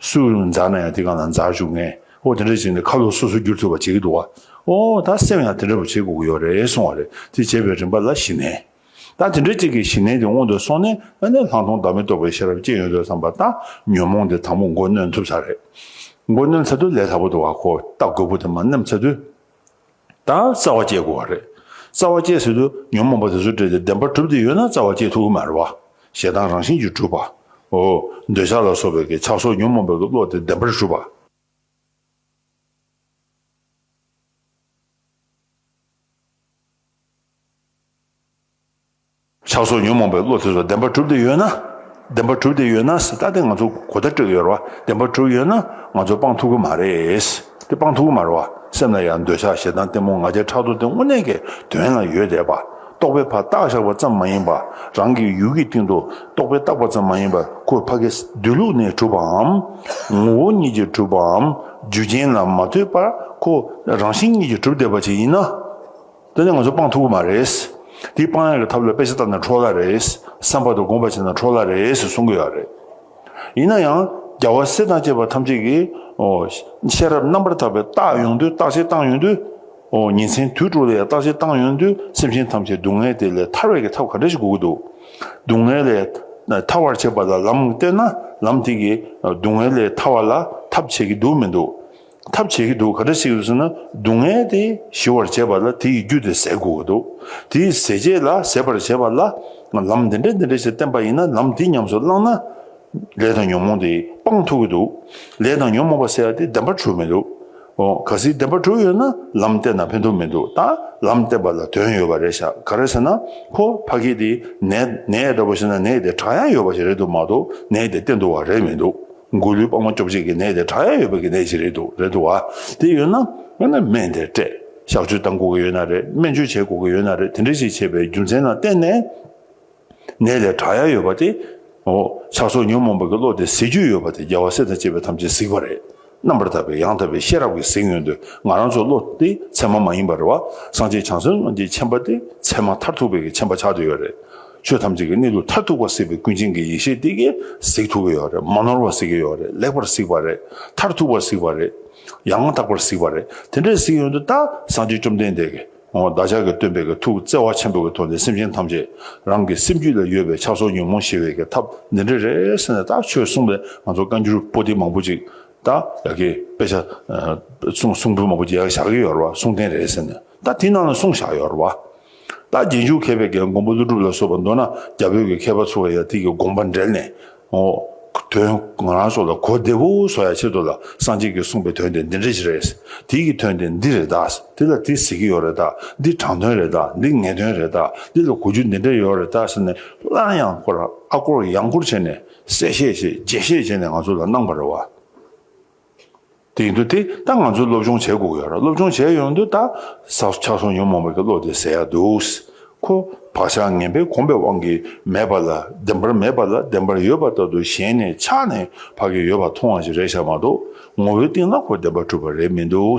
[SPEAKER 1] སུ་འཛག་ན་ཡང་དེ་གང་ལ་འཛག་བཞུགས་ངས་ཨོ་དེ་འདྲ་བྱས་ནས་ཁ་ལོ་སོ་སོ་བསྒྱུར་ཐུབ་པ་བྱེད་ཀྱི་འདུག་བ་ཨོ་ད་སེམས་ཡང་དེ་འདྲ་བུ་བྱེད་དགོས་ཀྱི་ཡོད་རེད་གསུང་བ་རེད་དེ་བྱས་པའི་རིམ་པ་ལ་ཞི་ནས་ད་དེ་འདྲ་ཅིག་གིས་ཞི་ནས་དེ་སྔོན་དུ་སོང་ནས་ཨ་ནེ་ལྷག་མཐོང་བདག་མེད་རྟོགས་པའི་ཤེས་རབ་སྐྱེ་ཡོང་དུས་བསམ་པ་ད་ཉོན་མོངས་དེ་དང་པོ་མགོ་གནོན་ཐུབ་ས་རེད་མགོ་གནོན་ཚར་དུས་ལས་སླ་པོ་འདུག་བ་ཁོ་ལྟ་རྒོད་པོ་དེ་མ་ནེམ་ཚར་དུས། དང་རྩ་བ་བཅད་དགོས་བ་རེད། རྩ་བ་བཅད་ཟེར་དུས་ཉོན་མོངས་པ་དེ་ཚོ་བྲལ་ཏེ་བདེན་པར་གྲུབ་སྟེ་ཡོད་ན་རྩ་བ་བཅད་ཐུབ་ཀྱི་མ་རེད་བ། ཞེ་སྡང་རང་བཞིན་གྱིས་གྲུབ་པ། འོ། འདོད་ཆགས་ལ་སོགས་པའི་གི་ཆགས་སོགས་ཉོན་མོངས་པའི་གི་བློ་དེ་བདེན་པར་གྲུབ་པ། ཕྱག་སོར་ཉོན་མོངས་པའི་བློ་དེ་ཚོ་བདེན་པར་གྲུབ་བསྡད་ཡོད་ན། བདེན་པར་གྲུབ་བསྡད་ཡོད་ན་སྲིད་ད་དེ་ང་ཚོ་གོ་བརྡ་སྤྲོད་ཡོད་རེད་བ་བདེན་པར་གྲུབ་ཡོད་ན་ང་ཚོ་སྤང་ཐུབ་ཀྱི་མ་རེད། དེ་སྤང་ཐུབ་ཀྱི་མ་རེད་བ་སེམས་ལ་ཡང་འདོད་ཆགས་ཞེ་སྡང་གཏི་མུག་ང་རྒྱལ་ཕྲག་དོག་དེ་དངོས་གནས་ཀྱི་དོན་ལ་ཡོད་བསྡད་པ་རྟོགས་པའི་ཕ་རྟགས་བཞག་པ་ཙམ་མ་ཡིན་པར་རང་གི་ཡུལ་གྱི་སྟེང་དུ་རྟོགས་པའི་རྟགས་པ་ཙམ་མ་ཡིན་པར་ཁོ་ཕ་གི་སྡོད་ལུགས་ནས་གྲུབ་པའམ། ངོ་བོ་ཉིད་ཀྱིས་གྲུབ་པའམ་རྒྱུ་རྐྱེན་ལ་མ་ལྟོས་པར་ཁོ་རང་བཞིན་ཉིད་ཀྱིས་གྲུབ་བསྡད་པ་ཅིག་ཡིན་ན། དེ་ནི་ང་ཚོ་སྤང་ཐུབ་ཀྱི་མ་རེད། དེའི་སྤང་ཡག་གི་ཐབས་ལ་དཔེ་ཆ་བལྟ་ན་འཕྲོ་སླ་རེད། བསམ་པ་དང་སྒོམ་པ་བྱས་ན་འཕྲོ་སླ་རེད་ཟེར་གསུང་གི་ཡོད་རེད། ཡིན་ན་ཡང་རྒྱལ་བ་སྲས་དང་བཅས་པ་ཐམས་ཅད་ཀྱིས་ཤེས་རབ་རྣམ་པར་དག་པའི་རྟགས་ཡོང་དུས་རྟགས་ཆད་བཏང་ཡོང་དུས། ཉིན་མཚན་དུས་དྲུག་ལ་ཡང་རྟགས་ཆད་བཏང་ཡོང་དུས་སེམས་ཅན་ཐམས་ཅད་སྡུག་བསྔལ་དེ་ལས་ཐར་བའི་གི་ཐབས་ག་འདྲ་ཞིག་དགོས་ཀྱི་འདུག་སྡུག་བསྔལ་ལས་ཐར་བར་བྱེད་པ་ལ་ལམ་བསྟན་ན་ལམ་དེ་གིས་སྡུག་བསྔལ་ལས་ཐར་བ་ལ་ཐབས་བྱེད་ཀྱི་འདུག་མི་འདུག་ཐབས་བྱེད་ཀྱི་འདུག་ག་འདྲ་ཞིག་རེད་ཟེར་ན་སྡུག་བསྔལ་དེ་ཞི་བར་བྱེད་པ་ལ་དེ་ཡི་རྒྱུ་དེ་ཟད་དགོས་ཀྱི་འདུག་དེ་ཡི་ཟད་བྱེད་ལ་ཟད་པར་བྱེད་པ་ལ་ལམ་འདི་འདྲ་འདི་འདྲ་ཞིག་བསྟན་པ་ཡིན་ན་ལམ་དེ་ཉམས་སུ་བླངས་ན། ལས་དང་ཉོན་མོངས་དེ་སྤང་ཐུབ་ཀྱི་འདུག་ལས་དང་ཉོན་མོངས་པ་ཟད་དེ་བདེན་པར་གྲོལ་མི་འདུག་ཨོ། གལ་སྲིད་བདེན་པར་གྲོལ་ཡོད་ན་ལམ་བསྟན་ན་ཕན་ཐོགས་མི་འདུག་ད་ལམ་བསྟན་པ་ལ་དོན་ཡོད་པ་རེད་ཤག་ག་རེད་ཟེར་ན་ཁོ་ཕ་གི་དེ་ནས་ནས་འདྲ་པོ་ཞིག་ན་ནས་དེ་གྲགས་ཡང་ཡོད་པ་ཞིག་རེད་འདུག་མ་གཏོགས་ནས་དེ་བསྟན་འདུག་བ་རེད་མི་འདུག་མགོ་ལུས་པགས་མ་སྐྱོབ་བྱེད་ཀྱི་ནད་དེ་དྲག་ཡ་ཡོད་པ་གྱི་ནད་ཅིག་རེད་འདུག་རེད་འདུག་བ། དེ་ཡོད་ན་ཡང་ན་སྨན་དེ་སྤྲད་བཞག་བཅོས་བཏང་དགོས་ཀྱི་ཡོད་ན་རེད་སྨན་བཅོས་བྱེད་དགོས་ཀྱི་ཡོད་ན་རེད་དེ་འདྲ་ཞིག་བྱས་པའི་རྒྱུ་མཚན་ལ་བརྟེན་ནས་ནད་དེ་དྲག་ཡ་ཡོད་པ་དེ། ཆགས་སོགས་ཉོན་མོངས་པ་གྱི་བློ་དེ་གཟིགས་རྒྱུ་ཡོད་པ་དེ་རྒྱལ་བ་སྲས་དང་བཅས་པའི་ཐམས་ཅད་གཟིགས་པ་རེད་རྣམ་པར་དག་པའི་ཡང་དག་པའི་ཤེས་རབ་ཀྱིས་གཟིགས་ཡོང་དུས་ང་རང་ཚོའི་བློ་དེ་ཚད་མ་མ་ཡིན་པ་རེད་བ། སངས་རྒྱས་བྱང་སེམས་དབང་གི་མཆན་པ་དེ་ཚད་མ་མཐར་ཐུག་པའི་གི་མཆན་པ་ཆགས་འདོད་ཡོད་རེད། ཆོས་ཐམས་ཅད་ཀྱི་གནས་ལུགས་མཐར་ཐུག་པ་གཟིགས་པའི་ཀུན་མཁྱེན་གྱི་ཡེ་ཤེས་དེ་གས་གཟིགས་ཐུབ་ཀྱི་ཡོད་རེད་མ་ནོར་བར་གཟིགས་ཀྱི་ཡོད་རེད་ལེགས་པར་གཟིགས་པ་རེད་མཐར་ཐུག་པར་གཟིགས་པ་རེད་ཡང་མ་དག་པར་གཟིགས་པ་རེད་དེ་འདྲའི་གཟིགས་ཡོད་འདི་ལྟར་གསང་ཆེན་བཅོམ་ལྡན་འདས་ཀྱིས་བདག་ཅག་གི་སྟོན་པའི་གི་ཐུགས་བརྩེ་བ་ཆེན་པོ་གི་ཐོག་ནས་སེམས་ཅན་ཐམས་ཅད་རང་གི་སེམས་རྒྱུད་ལ་ཡོད་པའི་ཆགས་སོགས་ཉོན་མོངས་ཞི་བའི་གི་ཐབས་འདི་འདྲ་རེད་ཟེར་ནས་ད་ཆོས་གསུངས་པས་ང་ཚོ་བཀའ་འགྱུར་པོ་ཏི་མང་པོ་ཅིག་ད་ཡ་གི་དཔེ་ཆ་གསུངས་གསུངས་འབུལ་མང་པོ་ཅིག་ཡ་གི་བཞག་གི་ཡོད་རེད་བ་གསུངས་ཐེངས་རེ་ཟེར་ནས་ད་དེ་ནང་ལ་གསུངས་བཞག་ཡོད་རེད་བ། ལ་རྗེས་འཇུག་མཁས་པའི་འགན་མགོན་པོ་ཀླུ་སྒྲུབ་ལ་སོགས་པ་མདོར་ན་རྒྱ་བོད་ཀྱི་མཁས་པ་ཚོ་ལ་ཡང་ཐིག་གི་དགོངས་པ་འགྲེལ་ནས་ངོ། དོན། ང་རང་སོགས་ལ་གོ་བདེ་བོ་བཟོ་ཡ་ཆེད་དུ་ལ་སངས་རྒྱས་ཀྱི་གསུངས་པའི་དོན་དེ་འདི་འདྲ་ཞིག་རེད། དེ་ཀྱི་དོན་དེ་འདི་རེད་ད། དེ་ལ་དེ་ཟེར་གྱི་ཡོད་རེད་ད། འདི་དྲང་དོན་རེད་ད། འདི་ངེས་དོན་རེད་ད། འདི་ལ་གོ་རྒྱུ་འདི་འདྲ་ཡོད་རེད་ད་ཟེར་ནས་སླར་ཡང་སྐོར་ཨ་སྐོར་ཡང་སྐོར་བྱས་ནས་གསལ་བཤད་བྱས་རྗེས་བཤད་བྱས་ནས་ང་ཚོ་ལ་གནང་བ་རེད་བ། དེ་འདུག་དེ་ད་ང་ཚོས་སློབ་སྦྱོང་བྱེད་དགོས་ཀྱི་ཡོད་ར་སློབ་སྦྱོང་བྱས་ཡོང་དུས་ད་ས་ཆ་སོང་ཉོན་མོངས་པ་གི་བློ་དེ་ཟད་ཡག་འདུག་ཁོ་བག་ཆགས་ངན་པས་གོམས་པའི་དབང་གིས་མེད་པ་ལ་བདེན་པར་མེད་པ་ལ་བདེན་པར་ཡོད་པ་ལྟར་དུ་ཞེན་ནས་ཆགས་ནས་བག་གི་ཡོད་པ་མཐོང་བ་ཞིག་རེད་ཤག་མ་གཏོགས་ངོ་བོའི་སྟེང་ན་ཁོ་བདེན་པ་གྲུབ་པ་རེད་མི་འདུག།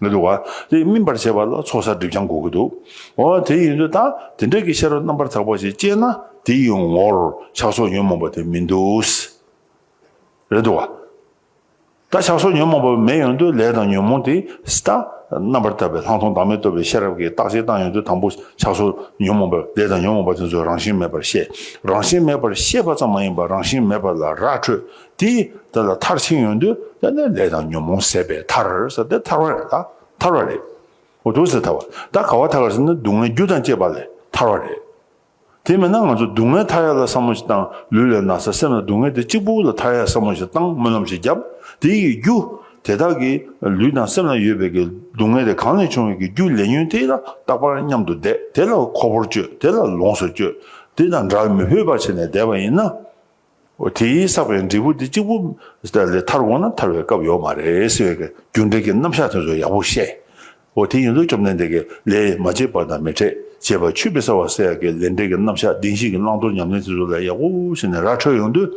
[SPEAKER 1] མི་འདུག་བ། དེ་སྨིན་པར་བྱེད་པ་ལ་ཚོགས་བསགས་སྒྲིབ་སྦྱང་དགོས་ཀྱི་འདུག། འོ་དེ་ཡིན་དུས་ད་དེ་འདྲ་གི་ཤེས་རབ་རྣམ་པར་དག་པ་ཞིག་སྐྱེས་ན་དེ་ཡི་ངོར་ཆགས་སོགས་ཉོན་མོངས་པ་དེ་མི་འདུག། རེད་འདུག་བ། ད་ཆགས་སོགས་ཉོན་མོངས་པ་མེད་ཡོང་དུས་ལས་དང་ཉོན་མོངས་དེ་ད་རྣམ་པར་དག་པའི་ལྷག་མཐོང་བདག་མེད་རྟོགས་པའི་ཤེས་རབ་ཀྱིས་བརྟག་དཔྱད་བཏང་ཡོང་དུས་དང་པོ་ཆགས་སོགས་ཉོན་མོངས་པ་ལས་དང་ཉོན་མོངས་པ་དེ་ཚོ་རང་བཞིན་མེད་པར་ཤེས། རང་བཞིན་མེད་པར་ཤེས་པ་ཙམ་མ་ཡིན་པར་རང་བཞིན་མེད་པ་ལ་རགས་ཁྲོད་དེ་ལྟར་ལ་མཐར་ཕྱིན་ཡོན་ཏུ་བསྟན་ནས་ལས་དང་ཉོན་མོངས་ཟད་པའི་མཐར་ཟད་དེ་ཐར་བ་རེད། ཐར་བ་རེད། འོ་དོ་ཟད་ཐར་བ། ད་ག་བ་ཐར་ག་ཟེར་ན་སྡུག་བསྔལ་རྒྱུ་དང་བཅས་པ་ལས་ཐར་བ་རེད། དེ་མེད་ན་ང་ཚོ་སྡུག་བསྔལ་ཐར་ཡ་ལ་བསམ་བློ་ཞིག་བཏང་ལུས་ལས་ན་ཚ་སེམས་ལ་སྡུག་བསྔལ་དེ་གཅིག་པུ་ལ་ཐར་ཡ་བསམ་བློ་ཞིག་བཏང་སྨོན་ལམ་ཞིག་བརྒྱབ་དེ་ཡི་རྒྱུ་དེ་དག་གི་ལུས་དང་སེམས་ལ་ཡོད་པའི་གི་སྡུག་བསྔལ་དེ་གང་ལས་བྱུང་བའི་གི་རྒྱུ་ལས་ཉོན་དེ་ལ་རྟག་པར་མཉམ་དུ་བསྡད་དེ་ལ་ཁོ་བོར་སྤྱོད་དེ་ལ་ལོངས་སུ་སྤྱོད་དེ་དང་སྒྲར་མི་ཕོད་པར་བྱས་ནས་བསྡད་པ་ཡིན་ན། དེས་བསགས་པའི་འབྲས་བུ་དེ་གཅིག་པུ་ལས་མཐར་འོང་ན་ཐར་བའི་སྐབས་ཡོད་མ་རེད་ཟེར་བའི་རྒྱུ་འབྲས་ཀྱི་རྣམ་གཞག་དེ་ཚོ་ཡག་པོ་བཤད། དེ་ཡིན་དུས་བཅོམ་ལྡན་འདས་ཀྱིས་ལས་མ་བྱས་པ་དང་མི་འཕྲད་ཅེས་པ་ཆུད་པའི་གསལ་བ་སེ་ཡ་ཀའི་ལས་འབྲས་ཀྱི་རྣམ་གཞག་བདེན་བཞིའི་བླང་དོར་ཉམས་ལེན་དེ་ཚོ་ལ་ཡག་པོ་བྱས་ནས་ར་འཕྲོད་ཡོང་དུས།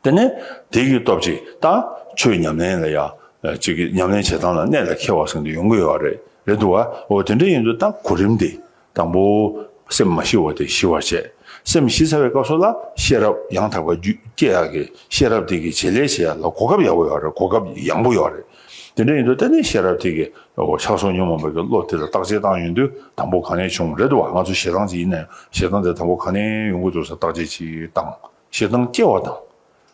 [SPEAKER 1] དེ་ནས་དེ་གི་སྟོབས་ཀྱིས་ད་ཆོས་ཉམས་ལེན་ལ་ཡག། ཅིག་གིས་ཉམས་ལེན་བྱེད་སྟངས་ལ་གནད་ལ་འཁེལ་བ་བཟང་དུ་ཡོང་གི་ཡོད་རེད་འདུག་བ། དེ་འདྲ་ཡིན་དུས་ད་གོ་རིམ་དེ་དང་པོ། སེམས་མ་ཞི་བ་དེ་ཞི་བར་བྱེད། སེམས་ཞི་ཚར་བའི་སྐབས་སུ་ལ་ཤེས་རབ་ཡང་དག་པ་རྒྱུད་སྐྱེ་ཡག་གི་ཤེས་རབ་དེ་གི་བྱེད་ལས་བྱེད་ཡག་ལ་གོ་སྐབས་ཡག་པོ་ཡོག་རེད་གོ་སྐབས་ཡང་པོ་ཡོག་རེད། དེ་འདྲ་ཡིན་དུས་ལྟ་ནས་ཤེས་རབ་དེ་གི་ཕྱག་སོར་ཉོན་མོངས་པ་གི་བློ་དེ་ལ་བརྟག་དཔྱད་བཏང་ཡོང་དུས་དང་པོ་གང་ནས་བྱུང་རེད་བ་ང་ཚོ་ཞེ་སྡང་ཅིག་ཡིན་ན་ཡང་ཞེ་སྡང་དེ་དང་པོ་གང་ནས་ཡོང་གི་འདུག་ས་བརྟག་དཔྱད་ཅིག་བཏང་ཞེ་སྡང་སྐྱེ་བ་དང།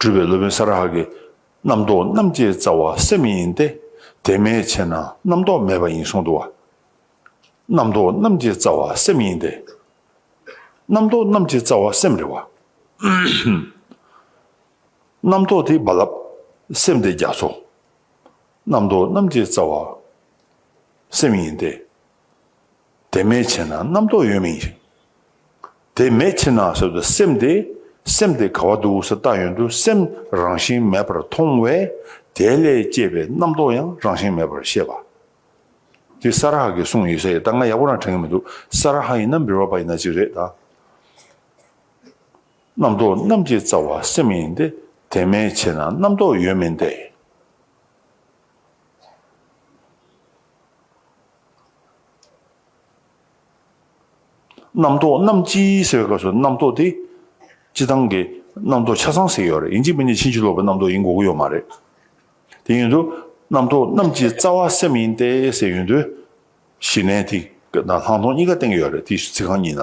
[SPEAKER 1] སྤྲུལ་པའི་སློབ་དཔོན་ས་ར་ཧ་གིས། རྣམ་རྟོག་རྣམ་སྐྱེའི་རྩ་བ་སེམས་ཡིན་ཏེ། དེ་མེད་ཕྱིར་ན་རྣམ་རྟོག་མེད་པ་ཡིན་གསུངས་འདུག། རྣམ་རྟོག་རྣམ་སྐྱེའི་རྩ་བ་སེམས་ཡིན་ཏེ། རྣམ་རྟོག་རྣམ་སྐྱེའི་རྩ་བ་སེམས་རེད་བ། རྣམ་རྟོག་དེ་རྦ་རླབས། སེམས་དེ་རྒྱ་མཚོ། རྣམ་རྟོག་རྣམ་སྐྱེའི་རྩ་བ་སེམས་ཡིན་ཏེ། དེ་མེད་ཕྱིར་ན་རྣམ་རྟོག་ཡོད་མིན་ཞིང། དེ་མེད་ཕྱིར་ན་ཟོས་པའི་སེམས་དེ་སེམས་དེ་ག་བ་འདུག་ས་བརྟགས་ཡོན་དུ་སེམས་རང་བཞིན་མེད་པར་མཐོང་བས་དེ་ལས་སྐྱེས་པའི་རྣམ་རྟོག་ཡང་རང་བཞིན་མེད་པར་ཤེས་པ། འདི་ས་ར་ཧ་གིས་གསུངས་ཡོད་ས་ཡིན་ད་ང་ཡག་པོ་རང་དྲན་གི་མི་འདུག་ས་ར་ཧ་ཡིན་ན་འབིར་བ་པ་ཡིན་ན་གཅིག་རེད་ད། རྣམ་རྟོག་རྣམས་ཀྱི་རྩ་བ་སེམས་ཡིན་ཏེ་དེ་མེད་ཕྱིར་ན་རྣམ་རྟོག་ཡོད་མིན་ཏེ། རྣམ་རྟོག་རྣམས་ཅི་ཟེར་བའི་སྐབས་སུ་རྣམ་རྟོག་དེ་སྤྱི་བཏང་གི་རྣམ་རྟོག་ཆ་ཚང་ཟེར་ཡོད་རེད་ཡིན་གཅིག་མིན་གཅིག་ཕྱིན་ཅི་ལོག་པའི་རྣམ་རྟོག་ཡིན་དགོས་ཀྱི་ཡོད་མ་རེད། དེ་ཡིན་དུ་རྣམ་རྟོག་རྣམས་ཀྱི་རྩ་བ་སེམས་ཡིན་ཏེ་ཟེར་ཡོད་དུས་གཞི་གནས་དེ་དང་ལྷག་མཐོང་གཉིས་ཀ་སྟེང་ཡོད་རེད་དེ་ཚིག་རྐང་གཉིས་ན་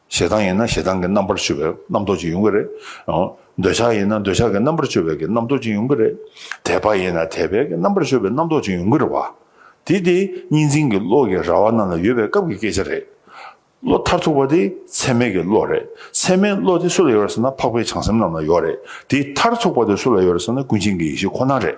[SPEAKER 1] ཞེ་སྡང་ཡིན་ན་ཞེ་སྡང་གི་རྣམ་པར་སྤྱོད་པའི་རྣམ་རྟོག་ཅིག་ཡོང་གི་རེད། འདོད་ཆགས་ཡིན་ན་འདོད་ཆགས་ཀྱི་རྣམ་པར་སྤྱོད་པའི་རྣམ་རྟོག་ཅིག་ཡོང་གི་རེད། དད་པ་ཡིན་ན་དད་པའི་རྣམ་པར་སྤྱོད་པའི་རྣམ་རྟོག་ཅིག་ཡོང་གི་རེད་བ། དེ་དེ་གཉིས་འཛིན་གྱི་བློ་གྱི་ར་བ་རྣམས་ལ་ཡོད་པའི་སྐབས་ཀྱི་སྐད་ཆ་རེད། བློ་མཐར་ཐུག་པ་དེ་ཚད་མེད་ཀྱི་བློ་རེད། ཚད་མེད་བློ་དེ་སུ་ལ་ཡོད་རེད་ཟེར་ན་འཕགས་པའི་བྱང་སེམས་རྣམས་ལ་ཡོད་རེད། དེ་མཐར་ཐུག་པ་དེ་སུ་ལ་ཡོད་རེད་ཟེར་ན་ཀུན་མཁྱེན་གྱི་ཡེ་ཤེས་ཁོ་ན་རེད།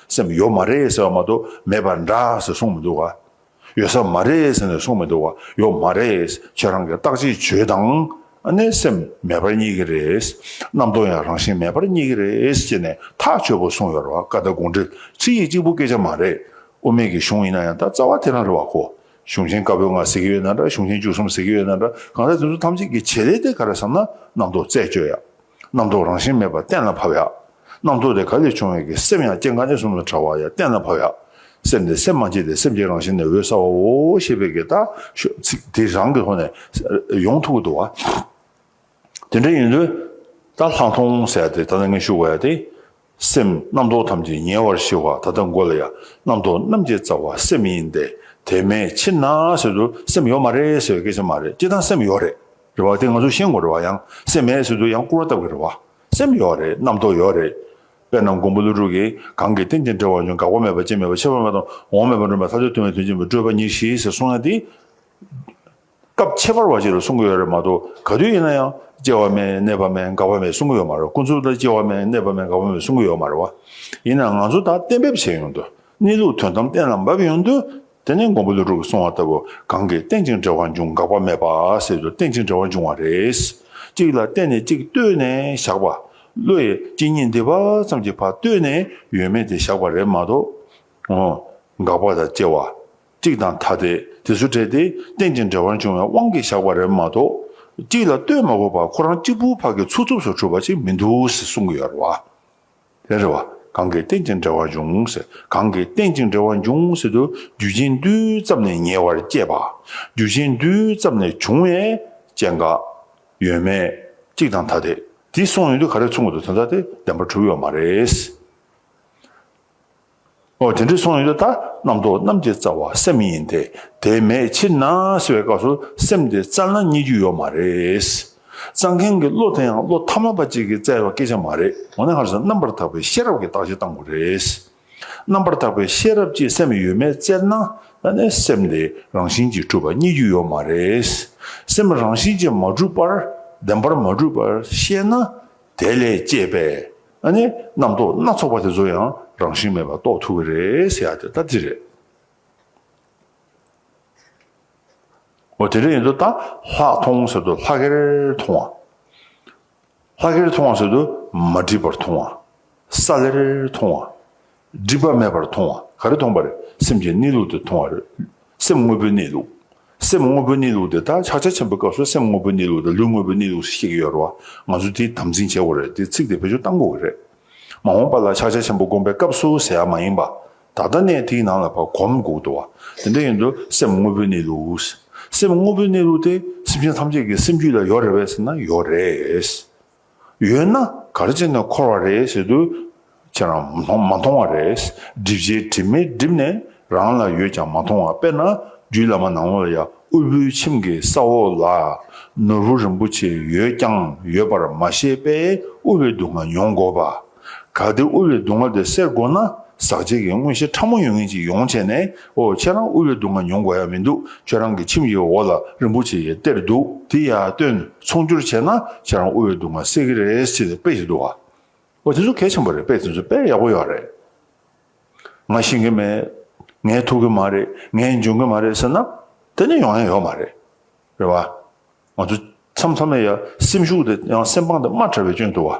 [SPEAKER 1] སེམས་ཡོད་མ་རེད་ཟེར་བ་མ་གཏོགས་མེད་པ་འདྲ་ཟེར་གསུངས་མི་འདུག་ག། ཡོད་ས་མ་རེད་ཟེར་ནས་གསུངས་མི་འདུག་ག་ཡོད་མ་རེད། ཁྱེད་རང་གི་རྟགས་གཅིག་བྱོས་དང། ནས་སེམས་མེད་པར་རྙེད་ཀྱི་རེད། རྣམ་རྟོག་ཡང་རང་བཞིན་མེད་པར་རྙེད་ཀྱི་རེད་ཅེས་ནས་ཐག་ཆོད་པོ་གསུངས་ཡོད་རེད་བ་ཀ་ད་དགོངས་འགྲེལ་ཚིག་ཡིག་གཅིག་པོ་སྐད་ཆ་མ་རེད། དབུ་མེད་ཀྱི་གཞུང་ཡིན་ན་ཡང་ད་རྩ་བ་དེ་རང་རེད་བ་ཁོ། གཞུང་ཆེན་དཀར་པོའི་ལྔ་ཟེར་གྱི་ཡོད་ན་འདྲ་གཞུང་ཆེན་བཅུ་གསུམ་ཟེར་གྱི་ཡོད་ན་འདྲ་གང་ཟག་དེ་ཚོ་ཐམས་ཅད་ཀྱི་བྱེད་ལས་དེ་ག་རེ་བསམ་ན་རྣམ་རྟོག་རྩད་གཅོད་ཡག། རྣམ་རྟོག་རང་བཞིན་མེད་པར་གཏན་ལ་ཕབ། རྣམ་རྟོག་དེ་ག་ལས་བྱུང་བའི་གི་སེམས་ཡང་སྐྱེ་འགག་གནས་གསུམ་ལ་ཕྲ་བ་ཡང་གཏན་ལ་ཕབ། སེམས་དེ་སེམས་མ་སྐྱེས་ཏེ་སེམས་ཀྱི་རང་བཞིན་ནི་འོད་གསལ་བའོ་ཞེས་པའི་གི་དག་ཤོག་ཚིག་དེ་རང་གི་ཐོག་ནས་ཡོངས་ཐུགས་ཀྱི་དུ་བ། དེ་འདྲ་ཡིན་དུས་ད་ལྷག་མཐོང་གསལ་དེ་ད་ལྟ་ངས་ཞུ་དགོས་ཡ་དེ། སེམས་རྣམ་རྟོག་ཐམས་ཅད་ཉེ་བར་ཞི་བ་ད་ལྟ་མགོ་ལ་ཡ་རྣམ་རྟོག་རྣམ་འབྱེད་རྩ་བ་སེམས་ཡིན་ཏེ་དེ་མེད་ཕྱིར་ན་ཟེར་དུ་སེམས་ཡོད་མ་རེད་ཟེར་བའི་སྐད་ཆ་མ་རེད་སྤྱིར་བཏང་སེམས་ཡོད་རེད་རེད་བ་དེ་ང་ཚོ་ཤེས་དགོས་རེད་བ་ཡང་སེམས་མེད་ཟེར་དུ་ཡང་སྐུར་བ་བཏབ་དགོས་རེད་བ་སེམས་ཡོད་རེད་རྣམ་རྟོག་ཡོད་རེད་དཔེར་ན་མགོན་པོ་ཀླུ་སྒྲུབ་ཀྱིས་གང་གི་རྟེན་ཅིང་འབྲེལ་བར་འབྱུང་འགག་པ་མེད་པ་ཅན་མེད་པ་ཕྱི་བ་མེད་པ་དང་འོག་མ་མེད་པ་མགྲོན་པའི་ལྷ་ཚོགས་སྟོན་བའི་དོན་ཅན་པའི་སྤྲོས་པ་ཉེར་ཞི་ཟེར་གསུངས་ཡ་དེ། སྐབས་ཁྱད་པར་བ་ཞིག་ལ་གསུང་གི་ཡོད་རེད་མ་གཏོགས་ག་དུས་ཡིན་ན་ཡང་སྐྱེ་བ་མེད་གནས་པ་མེད་འགག་པ་མེད་གསུང་གི་ཡོད་མ་རེད་ཁོང་ཚོས་ད་སྐྱེ་བ་མེད་གནས་པ་མེད་འགག་པ་མེད་གསུང་གི་ཡོད་མ་རེད་བ། ཡིན་ནའང་ང་ཚོ་ད་གཏན་འབེབས་བྱས་ཡོང་དུས་གནས་ལུགས་དོན་དམ་གཏན་ལ་འབབ་ཡོང་དུས་དེ་ནས་མགོན་པོ་ལི་ཀྲུག་གིས་གསུང་བ་ལྟ་བུ་གང་གིས་རྟེན་ཅིང་འབྲེལ་བ་འབྱུང་འགག་པ་མེད་པ་ཟེར་དུས་རྟེན་ཅིང་འབྲེལ་བ་འབྱུང་བ་རེད། གཅིག་ལ་བརྟེན་ནས་གཅིག་ལྟོས་ནས་བཞག་པ། བློ་ཡིས་གཅིག་ཉིད་འདི་བ་ཙམ་གྱི་བར་ལྟོས་ནས་ཡོད་མེད་དེ་བཞག་པ་རེད་མ་གཏོགས། འོང། འགག་པ་དང་སྐྱེ་བ། གཅིག་དང་ཐ་དད་དེ་སུ་བྲལ་ཏེ་རྟེན་ཅིང་འབྲེལ་བར་འབྱུང་བའི་དབང་གིས་བཞག་པ་རེད་མ་གཏོགས། གཅིག་ལ་ལྟོས་མ་དགོས་པར་ཁོ་རང་གཅིག་པུའི་བར་གྱི་ཚུགས་ཐུབ་སོ་གྲུབ་པ་ཅིག་མི་འདུག་ཟེར་གསུང་གི་ཡོད་རེད་བ། ལན་རེ་བ། གང་གིས་རྟེན་ཅིང་འབྲེལ་བར་འབྱུང་ཟེར། གང་གིས་རྟེན་ཅིང་འབྲེལ་བར་འབྱུང་ཟེར་དུ་རྒྱུ་ཅན་རྡུལ་ཙམ་ནས་ཉེ་བར་སྐྱེས་པ། རྒྱུ་ཅན་རྡུལ་ཙམ་ནས་བྱུང་བས་སྐྱེ་འགག། ཡོད་མེད། གཅིག་དང་ཐ་དད་དེ་གསུངས་ཡོད་དུས་ག་རེ་མཚུངས་ཀྱི་འདུག་དོན་དག་དེ་བདེན་པར་གྲུབ་ཡོད་མ་རེད། ཨོ་དེ་འདྲའི་སོང་ཡོད་ད་ལྟ་རྣམ་རྟོག་རྣམས་ཀྱི་རྩ་བ་སེམས་ཡིན་ཏེ་དེ་མེད་ཕྱིར་ན་ཟེར་བའི་སྐབས་སུ་སེམས་དེ་རྩ་ན་རྙེད་རྒྱུ་ཡོད་མ་རེད། རྩ་མཁན་གྱི་བློ་དེ་ཡང་བློ་ཐ་མ་པ་གཅིག་གིས་བཙལ་བའི་སྐད་ཆ་མ་རེད་འོ་ན་ཧར་ཟིན་རྣམ་པར་དག་པའི་ཤེས་རབ་ཀྱིས་བརྟག་དཔྱད་བཏང་དགོས་རེད། རྣམ་པར་དག་པའི་ཤེས་རབ་ཀྱིས་སེམས་ཡོད་མེད་བཙལ་ན་ད་ནས་སེམས་དེ་རང་བཞིན་གྱིས་གྲུབ་པ་རྙེད་རྒྱུ་ཡོད་མ་རེད། སེམས་རང་བཞིན་གྱིས་མ་གྲུབ་པར་བདེན་པར་མ་གྲུབ་པར་ཤེས་ན་དེ་ལས་སྐྱེས་པའི་ཨ་ནི་རྣམ་རྟོག་སྣ་ཚོགས་པ་དེ་ཚོ་ཡང་རང་བཞིན་མེད་པར་རྟོགས་ཐུབ་ཀྱི་རེད་ཟེར་ཡག་དེ་ལྟར་ཅི་རེད། འོ་དེ་འདྲ་ཡིན་དུ་ད་ལྷག་མཐོང་ཟེར་དུ་ལྷག་གེར་མཐོང་བ། ལྷག་གེར་མཐོང་བ་ཟེར་དུ་མ་འགྲིབ་པར་མཐོང་བ། ས་ལེར་མཐོང་བ། སྒྲིབ་པ་མེད་པར་མཐོང་བ་ག་རེ་མཐོང་བ་རེད། སེམས་ཀྱི་གནས་ལུགས་དེ་མཐོང་བ་རེད། སེམས་དངོས་པོའི་གནས་ལུགས། སེམས་དངོས་པོའི་གནས་ལུགས་དེ་དག་ཕྱག་རྒྱ་ཆེན་པོའི་སྐབས་སུ་སེམས་དངོས་པོའི་གནས་ལུགས་དང་ལུས་དངོས་པོའི་གནས་ལུགས་སུ་གཤེགས་ཀྱི་ཡོད་རེད་བ། ང་ཚོས་དེའི་དམ་འཛིན་བྱེད་དགོས་རེད་དེ་ཚིག་དེ་བེད་སྤྱོད་གཏང་དགོས་ཀྱི་རེད། མ་འོངས་པ་ལ་ཕྱག་རྒྱ་ཆེན་པོ་བསྒོམ་པའི་སྐབས་སུ་ཟེར་ཡག་མ་ཡིན་པ། ད་ལྟ་ནས་དེའི་ནང་ལ་བར་གོམ་བགོ་དགོས་བ། དེ་འདྲ་ཡིན་དུས་སེམས་དངོས་པོའི་གནས་ལུགས། སེམས་དངོས་པོའི་གནས་ལུགས་དེ་སེམས་ཅན་ཐམས་ཅད་ཀྱི་སེམས་རྒྱུད་ལ་ཡོད་རེད་བས་ཟེར་ན་ཡོད་རེད། ཡོད་ན་ག་རེ་བྱས་ནས་འཁོར་བ་རེད་ཟེར་དུས། ཁྱེད་རང་མཐོང་མ་མཐོང་བ་རེད། སྒྲིབ་བྱེད་དྲི་མས་བསྒྲིབས་ནས་རང་ལ་ཡོད་ཀྱང་མ་མཐོང་བ་དཔེར་ན་རྒྱུད་བླ་མ་ནག་མོ་ལ་ཡ་དབུལ་པོའི་ཁྱིམ་གྱི་ས་འོག་ལ་ནོར་བུ་རིན་པོ་ཆེ་ཡོད་ཀྱང་ཡོད་པར་མ་ཤེས་པས་དབུལ་བའི་སྡུག་བསྔལ་མྱོང་དགོས་པ། གལ་ཏེ་དབུལ་བའི་སྡུག་བསྔལ་དེ་སེལ་དགོས་ན་ཟག་བཅས་ཀྱི་དངོས་གཞི་ཕྲ་མོ་ཡོད་ངེས་ཅིག་ཡོང་བྱས་ནས་ཨོ་ཁྱེད་རང་དབུལ་བའི་སྡུག་བསྔལ་མྱོང་དགོས་ཡ་མི་འདུག་ཁྱོད་རང་གི་ཁྱིམ་ཡི་འོག་ལ་རིན་པོ་ཆེ་ཡི་གཏེར་འདུག་དེ་ཡ་བཏོན་ཚོང་སྒྱུར་བྱས་ན་ཁྱེད་རང་དབུལ་བའི་སྡུག་བསྔལ་སེལ་གི་རེད་ཅེས་དཔེ་ཞིག་འདུག་བ། ཨོ་དེ་ཚོ་གལ་ཆེན་པོ་རེད་དཔེ་དེ་ཚོ་དཔེ་ཡག་པོ་ཡག་རེད། ང་ཤེས་གི་མེད། ངས་ཐུག་གི་མ་རེད་ངས་འཇོན་གི་མ་རེད་ཟེར་ན་དེ་ནི་ཡོང་ཡ་ཡོད་མ་རེད། རེད་བ། ང་ཚོ་མཚམས་མཚམས་ནས་ཡ་སེམས་ཤུགས་དེ་ཡང་སེམས་དཔང་དེ་དམའ་དྲགས་པའི་སྐྱོན་འདུག་བ།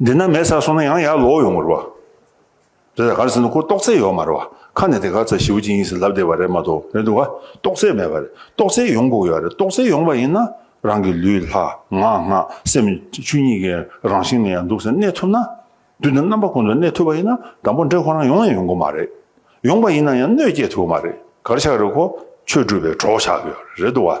[SPEAKER 1] འདི་ན་མེད་ས་སོང་ན་ཡང་ཡར་ལོག་ཡོང་མི་རུང། རེད་ད་ག་རེ་ཟེར་ན་ཁོ་ཏོག་ཙེ་ཡོད་མ་རེད་བ། ཁ་ནས་དེ་ག་ཚ་ཞེའུ་ཅིང་ཡིན་ཟེར་ལབ་བསྡད་པ་རེད་མ་གཏོགས་རེད་འདུག་ག་ཏོག་ཙེ་མེད་པ་རེད་ཏོག་ཙེ་ཡོང་དགོས་ཡོད་རེད་ཏོག་ཙེ་ཡོང་བ་ཡིན་ན་རང་གི་ལུས་ལྷ་ངག་སྔགས་སེམས་ཆུ་གཉིས་ཀའི་རང་བཞིན་ནས་ཡང་འདུག་ཟེར་གནས་ཐུབ་ན་དུས་འདིར་རྣམ་པ་ཀུན་ཏུ་གནས་ཐུབ་པ་ཡིན་ན་དང་པོ་འདྲེ་ཁོ་རང་ཡོང་ཡང་ཡོང་དགོས་མ་རེད། ཡོང་པ་ཡིན་ན་ཡང་གནོད་སྐྱེལ་ཐུབ་མ་རེད་གར་ཆག་རེད་ཁོ་ཆོས་སྒྲུབ་པའི་གྲོགས་ཆགས་ཀྱི་ཡོད་རེད་འདུག་ག།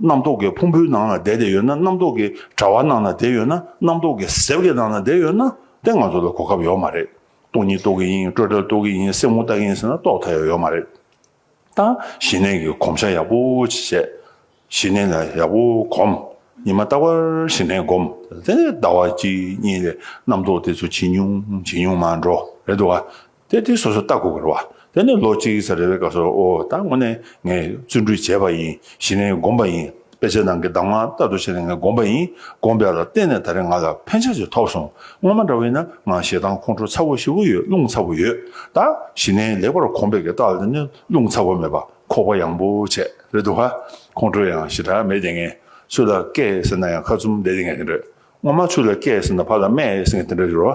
[SPEAKER 1] རྣམ་རྟོག་གི་ཕུང་པོའི་ནང་ན་བསྡད་དེ་ཡོད་ན་རྣམ་རྟོག་གི་དྲ་བ་ནང་ན་བསྡད་ཡོད་ན་རྣམ་རྟོག་གི་གཟེབ་ཀྱི་ནང་ན་བསྡད་ཡོད་ན་དེ་ང་ཚོ་ལ་གོ་སྐབས་ཡོད་མ་རེད། སྟོང་ཉིད་རྟོག་གི་ཡིན་སྤྲོས་བྲལ་རྟོག་གི་ཡིན་སེམས་ངོ་བལྟ་གི་ཡིན་ཟེར་ན་རྟོགས་ཐལ་ཡོད་མ་རེད། ད་ཞི་གནས་ཀྱི་གོམས་བཤགས་ཡག་པོ་ཅིག་བྱས། ཞི་གནས་ལ་ཡག་པོ་གོམས། ཉི་མ་རྟག་པར་ཞི་གནས་བསྒོམ། དེ་ཟླ་བ་གཅིག་གཉིས་ལས་རྣམ་རྟོག་དེ་ཚོ་ཇེ་ཉུང་ཇེ་ཉུང་མར་འགྲོ་རེད་འདུག་ཨ། དེ་དེ་སོ་སོར་བརྟག་དགོས་པར་བ། དེ་ནས་ལོ་གཅིག་ཚར་རེ་བའི་སྐབས་སུ་ཨོ། ད་དངོས་གནས་ངས་བརྩོན་འགྲུས་བྱས་པ་ཡིན་ཞེས་ནས་བསྒོམ་པ་ཡིན། དཔེ་ཆའི་ནང་གི་གདམས་ངག་ལྟར་དུ་བྱས་ནས་ངས་བསྒོམ་པ་ཡིན། བསྒོམ་པའི་ལ་བརྟེན་ནས་ད་རེས་ང་ལ་ཕན་ཆ་ཞིག་ཐོབ་སོང། སྔོན་མ་འདྲ་བས་ན་ང་ཞེ་སྡང་ཁོང་ཁྲོ་ཚ་བོ་ཞིག་ཡོད་རླུང་ཚ་བོ་ཡོད། ད་གཞི་ནས་ལེགས་པར་གོམས་པའི་གི་རྟགས་ལ་བརྟེན་ནས་རླུང་ཚ་བོ་མེད་པ་ཁོག་པ་ཡངས་པོ་བྱས་རེད་འདུག་ག། ཁོང་ཁྲོ་ཡང་ཞེ་དྲག་མེད་དེ་ངས་ཆུ་ལ་སྐད་ཟེར་ན་ཡང་ཁ་ཚུམ་བསྡད་དེ་ངས་དེ་འདྲ། སྔོན་མ་ཆུ་ལ་སྐད་ཟེར་ན་ཕ་ལ་སྨད་ཟེར་ངས་དེ་འདྲ་རེད་རོ།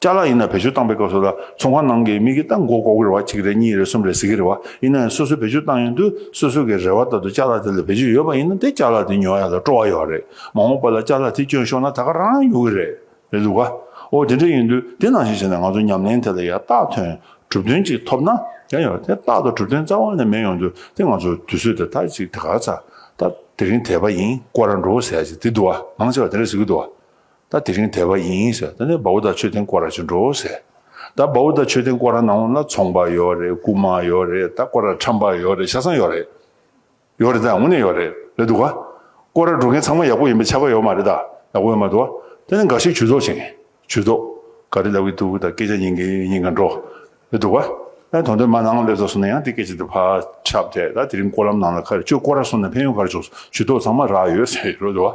[SPEAKER 1] བཅའ་ལག་ཡིན་ན་བེད་སྤྱོད་བཏང་པའི་སྐབས་སུ་ལ་ཚོང་ཁང་ནང་གི་མི་གིས་ཏང་གོ་གོ་གི་རེ་བ་གཅིག་རེད་གཉིས་རེད་གསུམ་རེད་ཟེར་གི་རེད་བ་ཡིན་ན་ཡང་སོ་སོས་བེད་སྤྱོད་བཏང་ཡོང་དུས་སོ་སོ་གི་རེ་བ་ལྟར་དུ་བཅའ་ལག་དེ་ལ་བེད་སྤྱོད་ཡོད་པ་ཡིན་ན་དེ་བཅའ་ལག་དེ་ཉོ་ཡ་ལ་སྤྲོ་བ་ཡོད་རེད་མ་འོངས་པ་ལ་བཅའ་ལག་དེ་སྐྱོན་ཤོར་ན་ད་ག་རང་རང་ཉོ་གི་རེད་རེད་འདུག་ག་འོ་དེ་འདྲ་ཡིན་དུས་དེ་ནང་བཞིན་བྱས་ན་ང་ཚོ་ཉམས་ལེན་དེ་ལ་ཡང་རྟགས་ཐོན་གྲུབ་དོན་གཅིག་ཐོབ་ན་ཡང་ཡོད་དེ་རྟགས་དང་གྲུབ་དོན་རྩ་བ་ནས་མེད་ཡོང་དུས་དེ་ང་ཚོར་དུས་ཚོད་དེ་ད་ཅིག་དེ་ག་ཚ་ད་དེ་རིང་དེད་པ་ཡིན་ཀོ་ར་འགྲོ་བོ་ཟེར་ཡ་ཅིག་དེ་འདུག་ག་མང་ཆེ་བ་དེ་འདྲ་ཟེར་གི་འདུག་ག་ད་དེ་རིང་དད་པ་ཡིན་ཟེར་ད་ནས་བའུ་དང་མཆོད་རྟེན་བསྐོར་ར་བྱེད་འགྲོ་ཟེར། ད་བའུ་དང་མཆོད་རྟེན་བསྐོར་ར་ནང་ལ་ཚོང་པ་ཡོད་རེད་རྐུ་མ་ཡོད་རེད་ད་བསྐོར་ར་ཁྲམ་པ་ཡོད་རེད་ཤ་ཚང་ཡོད་རེད། ཡོད་རེད་ད་དངོས་གནས་ཡོད་རེད་རེད་འདུག་ག། བསྐོར་ར་འགྲོ་མཁན་ཚང་མ་ཡག་པོ་ཡིན་པའི་ཆ་བ་ཡོད་མ་རེད་ད་ཡག་པོ་ཡོད་མ་འདུག་ག་ད་ནས་འགའ་ཞིག་ཇུས་གཏོགས་བྱེད་མཁན་ཇུས་གཏོགས་ག་རེ་ལབ་ཀྱི་འདུག་ད་སྐད་ཆ་ཉན་མཁན་ཉན་མཁན་འགྲོ་རེད་འདུག་ག་ད་དོན་དོན་མ་ནང་སླེབས་ས་སོང་ན་ཡང་དེ་སྐད་ཆ་དེ་ཕར་ཁྱབ་ཐལ་ད་དེ་རིང་བསྐོར་ལམ་ནང་ལ་ཁ་རེ་ཅོ་བསྐོར་ར་སོང་ན་ཕན་ཡོད་ག་རེ་བྱུང་སོང་ཇུས་གཏོགས་ཚང་མ་རག་ཡོད་ཟེར་རོ་འདུག་ག།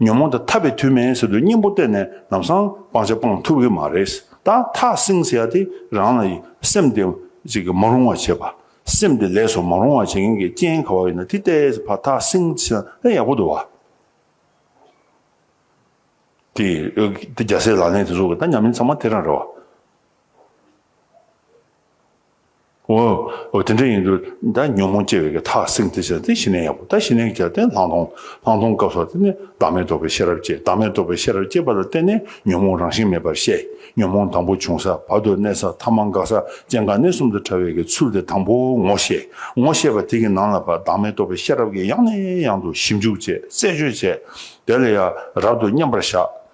[SPEAKER 1] ཉོན་མོངས་དང་འཐབ་པའི་དུས་མེད་ཟེར་དུས་སྙིང་པོ་གཏད་ནས་ལམ་སང་སྤང་བྱ་སྤང་ཐུབ་ཀྱི་མ་རེད། ད་ཐག་བསྲིང་ཟེར་ཡ་དེ་རང་ལ་ཡི་སེམས་དེ་མ་རུང་བ་བྱེད་པ། སེམས་དེ་ལས་སུ་མ་རུང་བ་བྱེད་མཁན་གྱི་རྐྱེན་ག་བ་ཡོད་ན་དེ་གཏད་ཟེར་བ་ཐག་བསྲིང་ཟེར་ན་ཡག་པོ་འདུག་བ། དེ་རྒྱ་སེ་ལག་ལེན་དེ་ཚོ་ད་ཉམས་ལེན་ཚང་མ་དེ་རང་རེད་བ། འོ། འོ་དེ་འདྲ་ཡིན་དུས་ད་ཉོན་མོངས་སྐྱེ་བའི་གེ་ཐག་བསྲིངས་ཏེ་བྱས་ན་དེ་ཞི་གནས་ཡག་པོ་ད་ཞི་གནས་བྱས་ཏེ་ལྷག་མཐོང། ལྷག་མཐོང་སྐབས་སོགས་དེ་ནས་བདག་མེད་རྟོགས་པའི་ཤེས་རབ་སྐྱེ་བདག་མེད་རྟོགས་པའི་ཤེས་རབ་སྐྱེས་པ་ལ་བརྟེན་ནས་ཉོན་མོངས་རང་བཞིན་མེད་པར་ཤེས། ཉོན་མོངས་དང་པོ་བྱུང་ས་བར་དུ་གནས་ས་ཐ་མ་འགགས་ས་སྐྱེ་འགག་གནས་གསུམ་དུ་ཕྲ་བའི་གེ་ཚུལ་དེ་དང་པོ་ངོ་ཤེས། ངོ་ཤེས་པ་དེ་གི་ནང་ལ་བདག་མེད་རྟོགས་པའི་ཤེས་རབ་ཀྱིས་ཡང་ནས་ཡང་དུ་ཞིབ་འཇུག་བྱས་རྩད་གཅོད་བྱས། དེ་ལ་ཡ་རབ་ཏུ་མཉམ་པར་བཞག།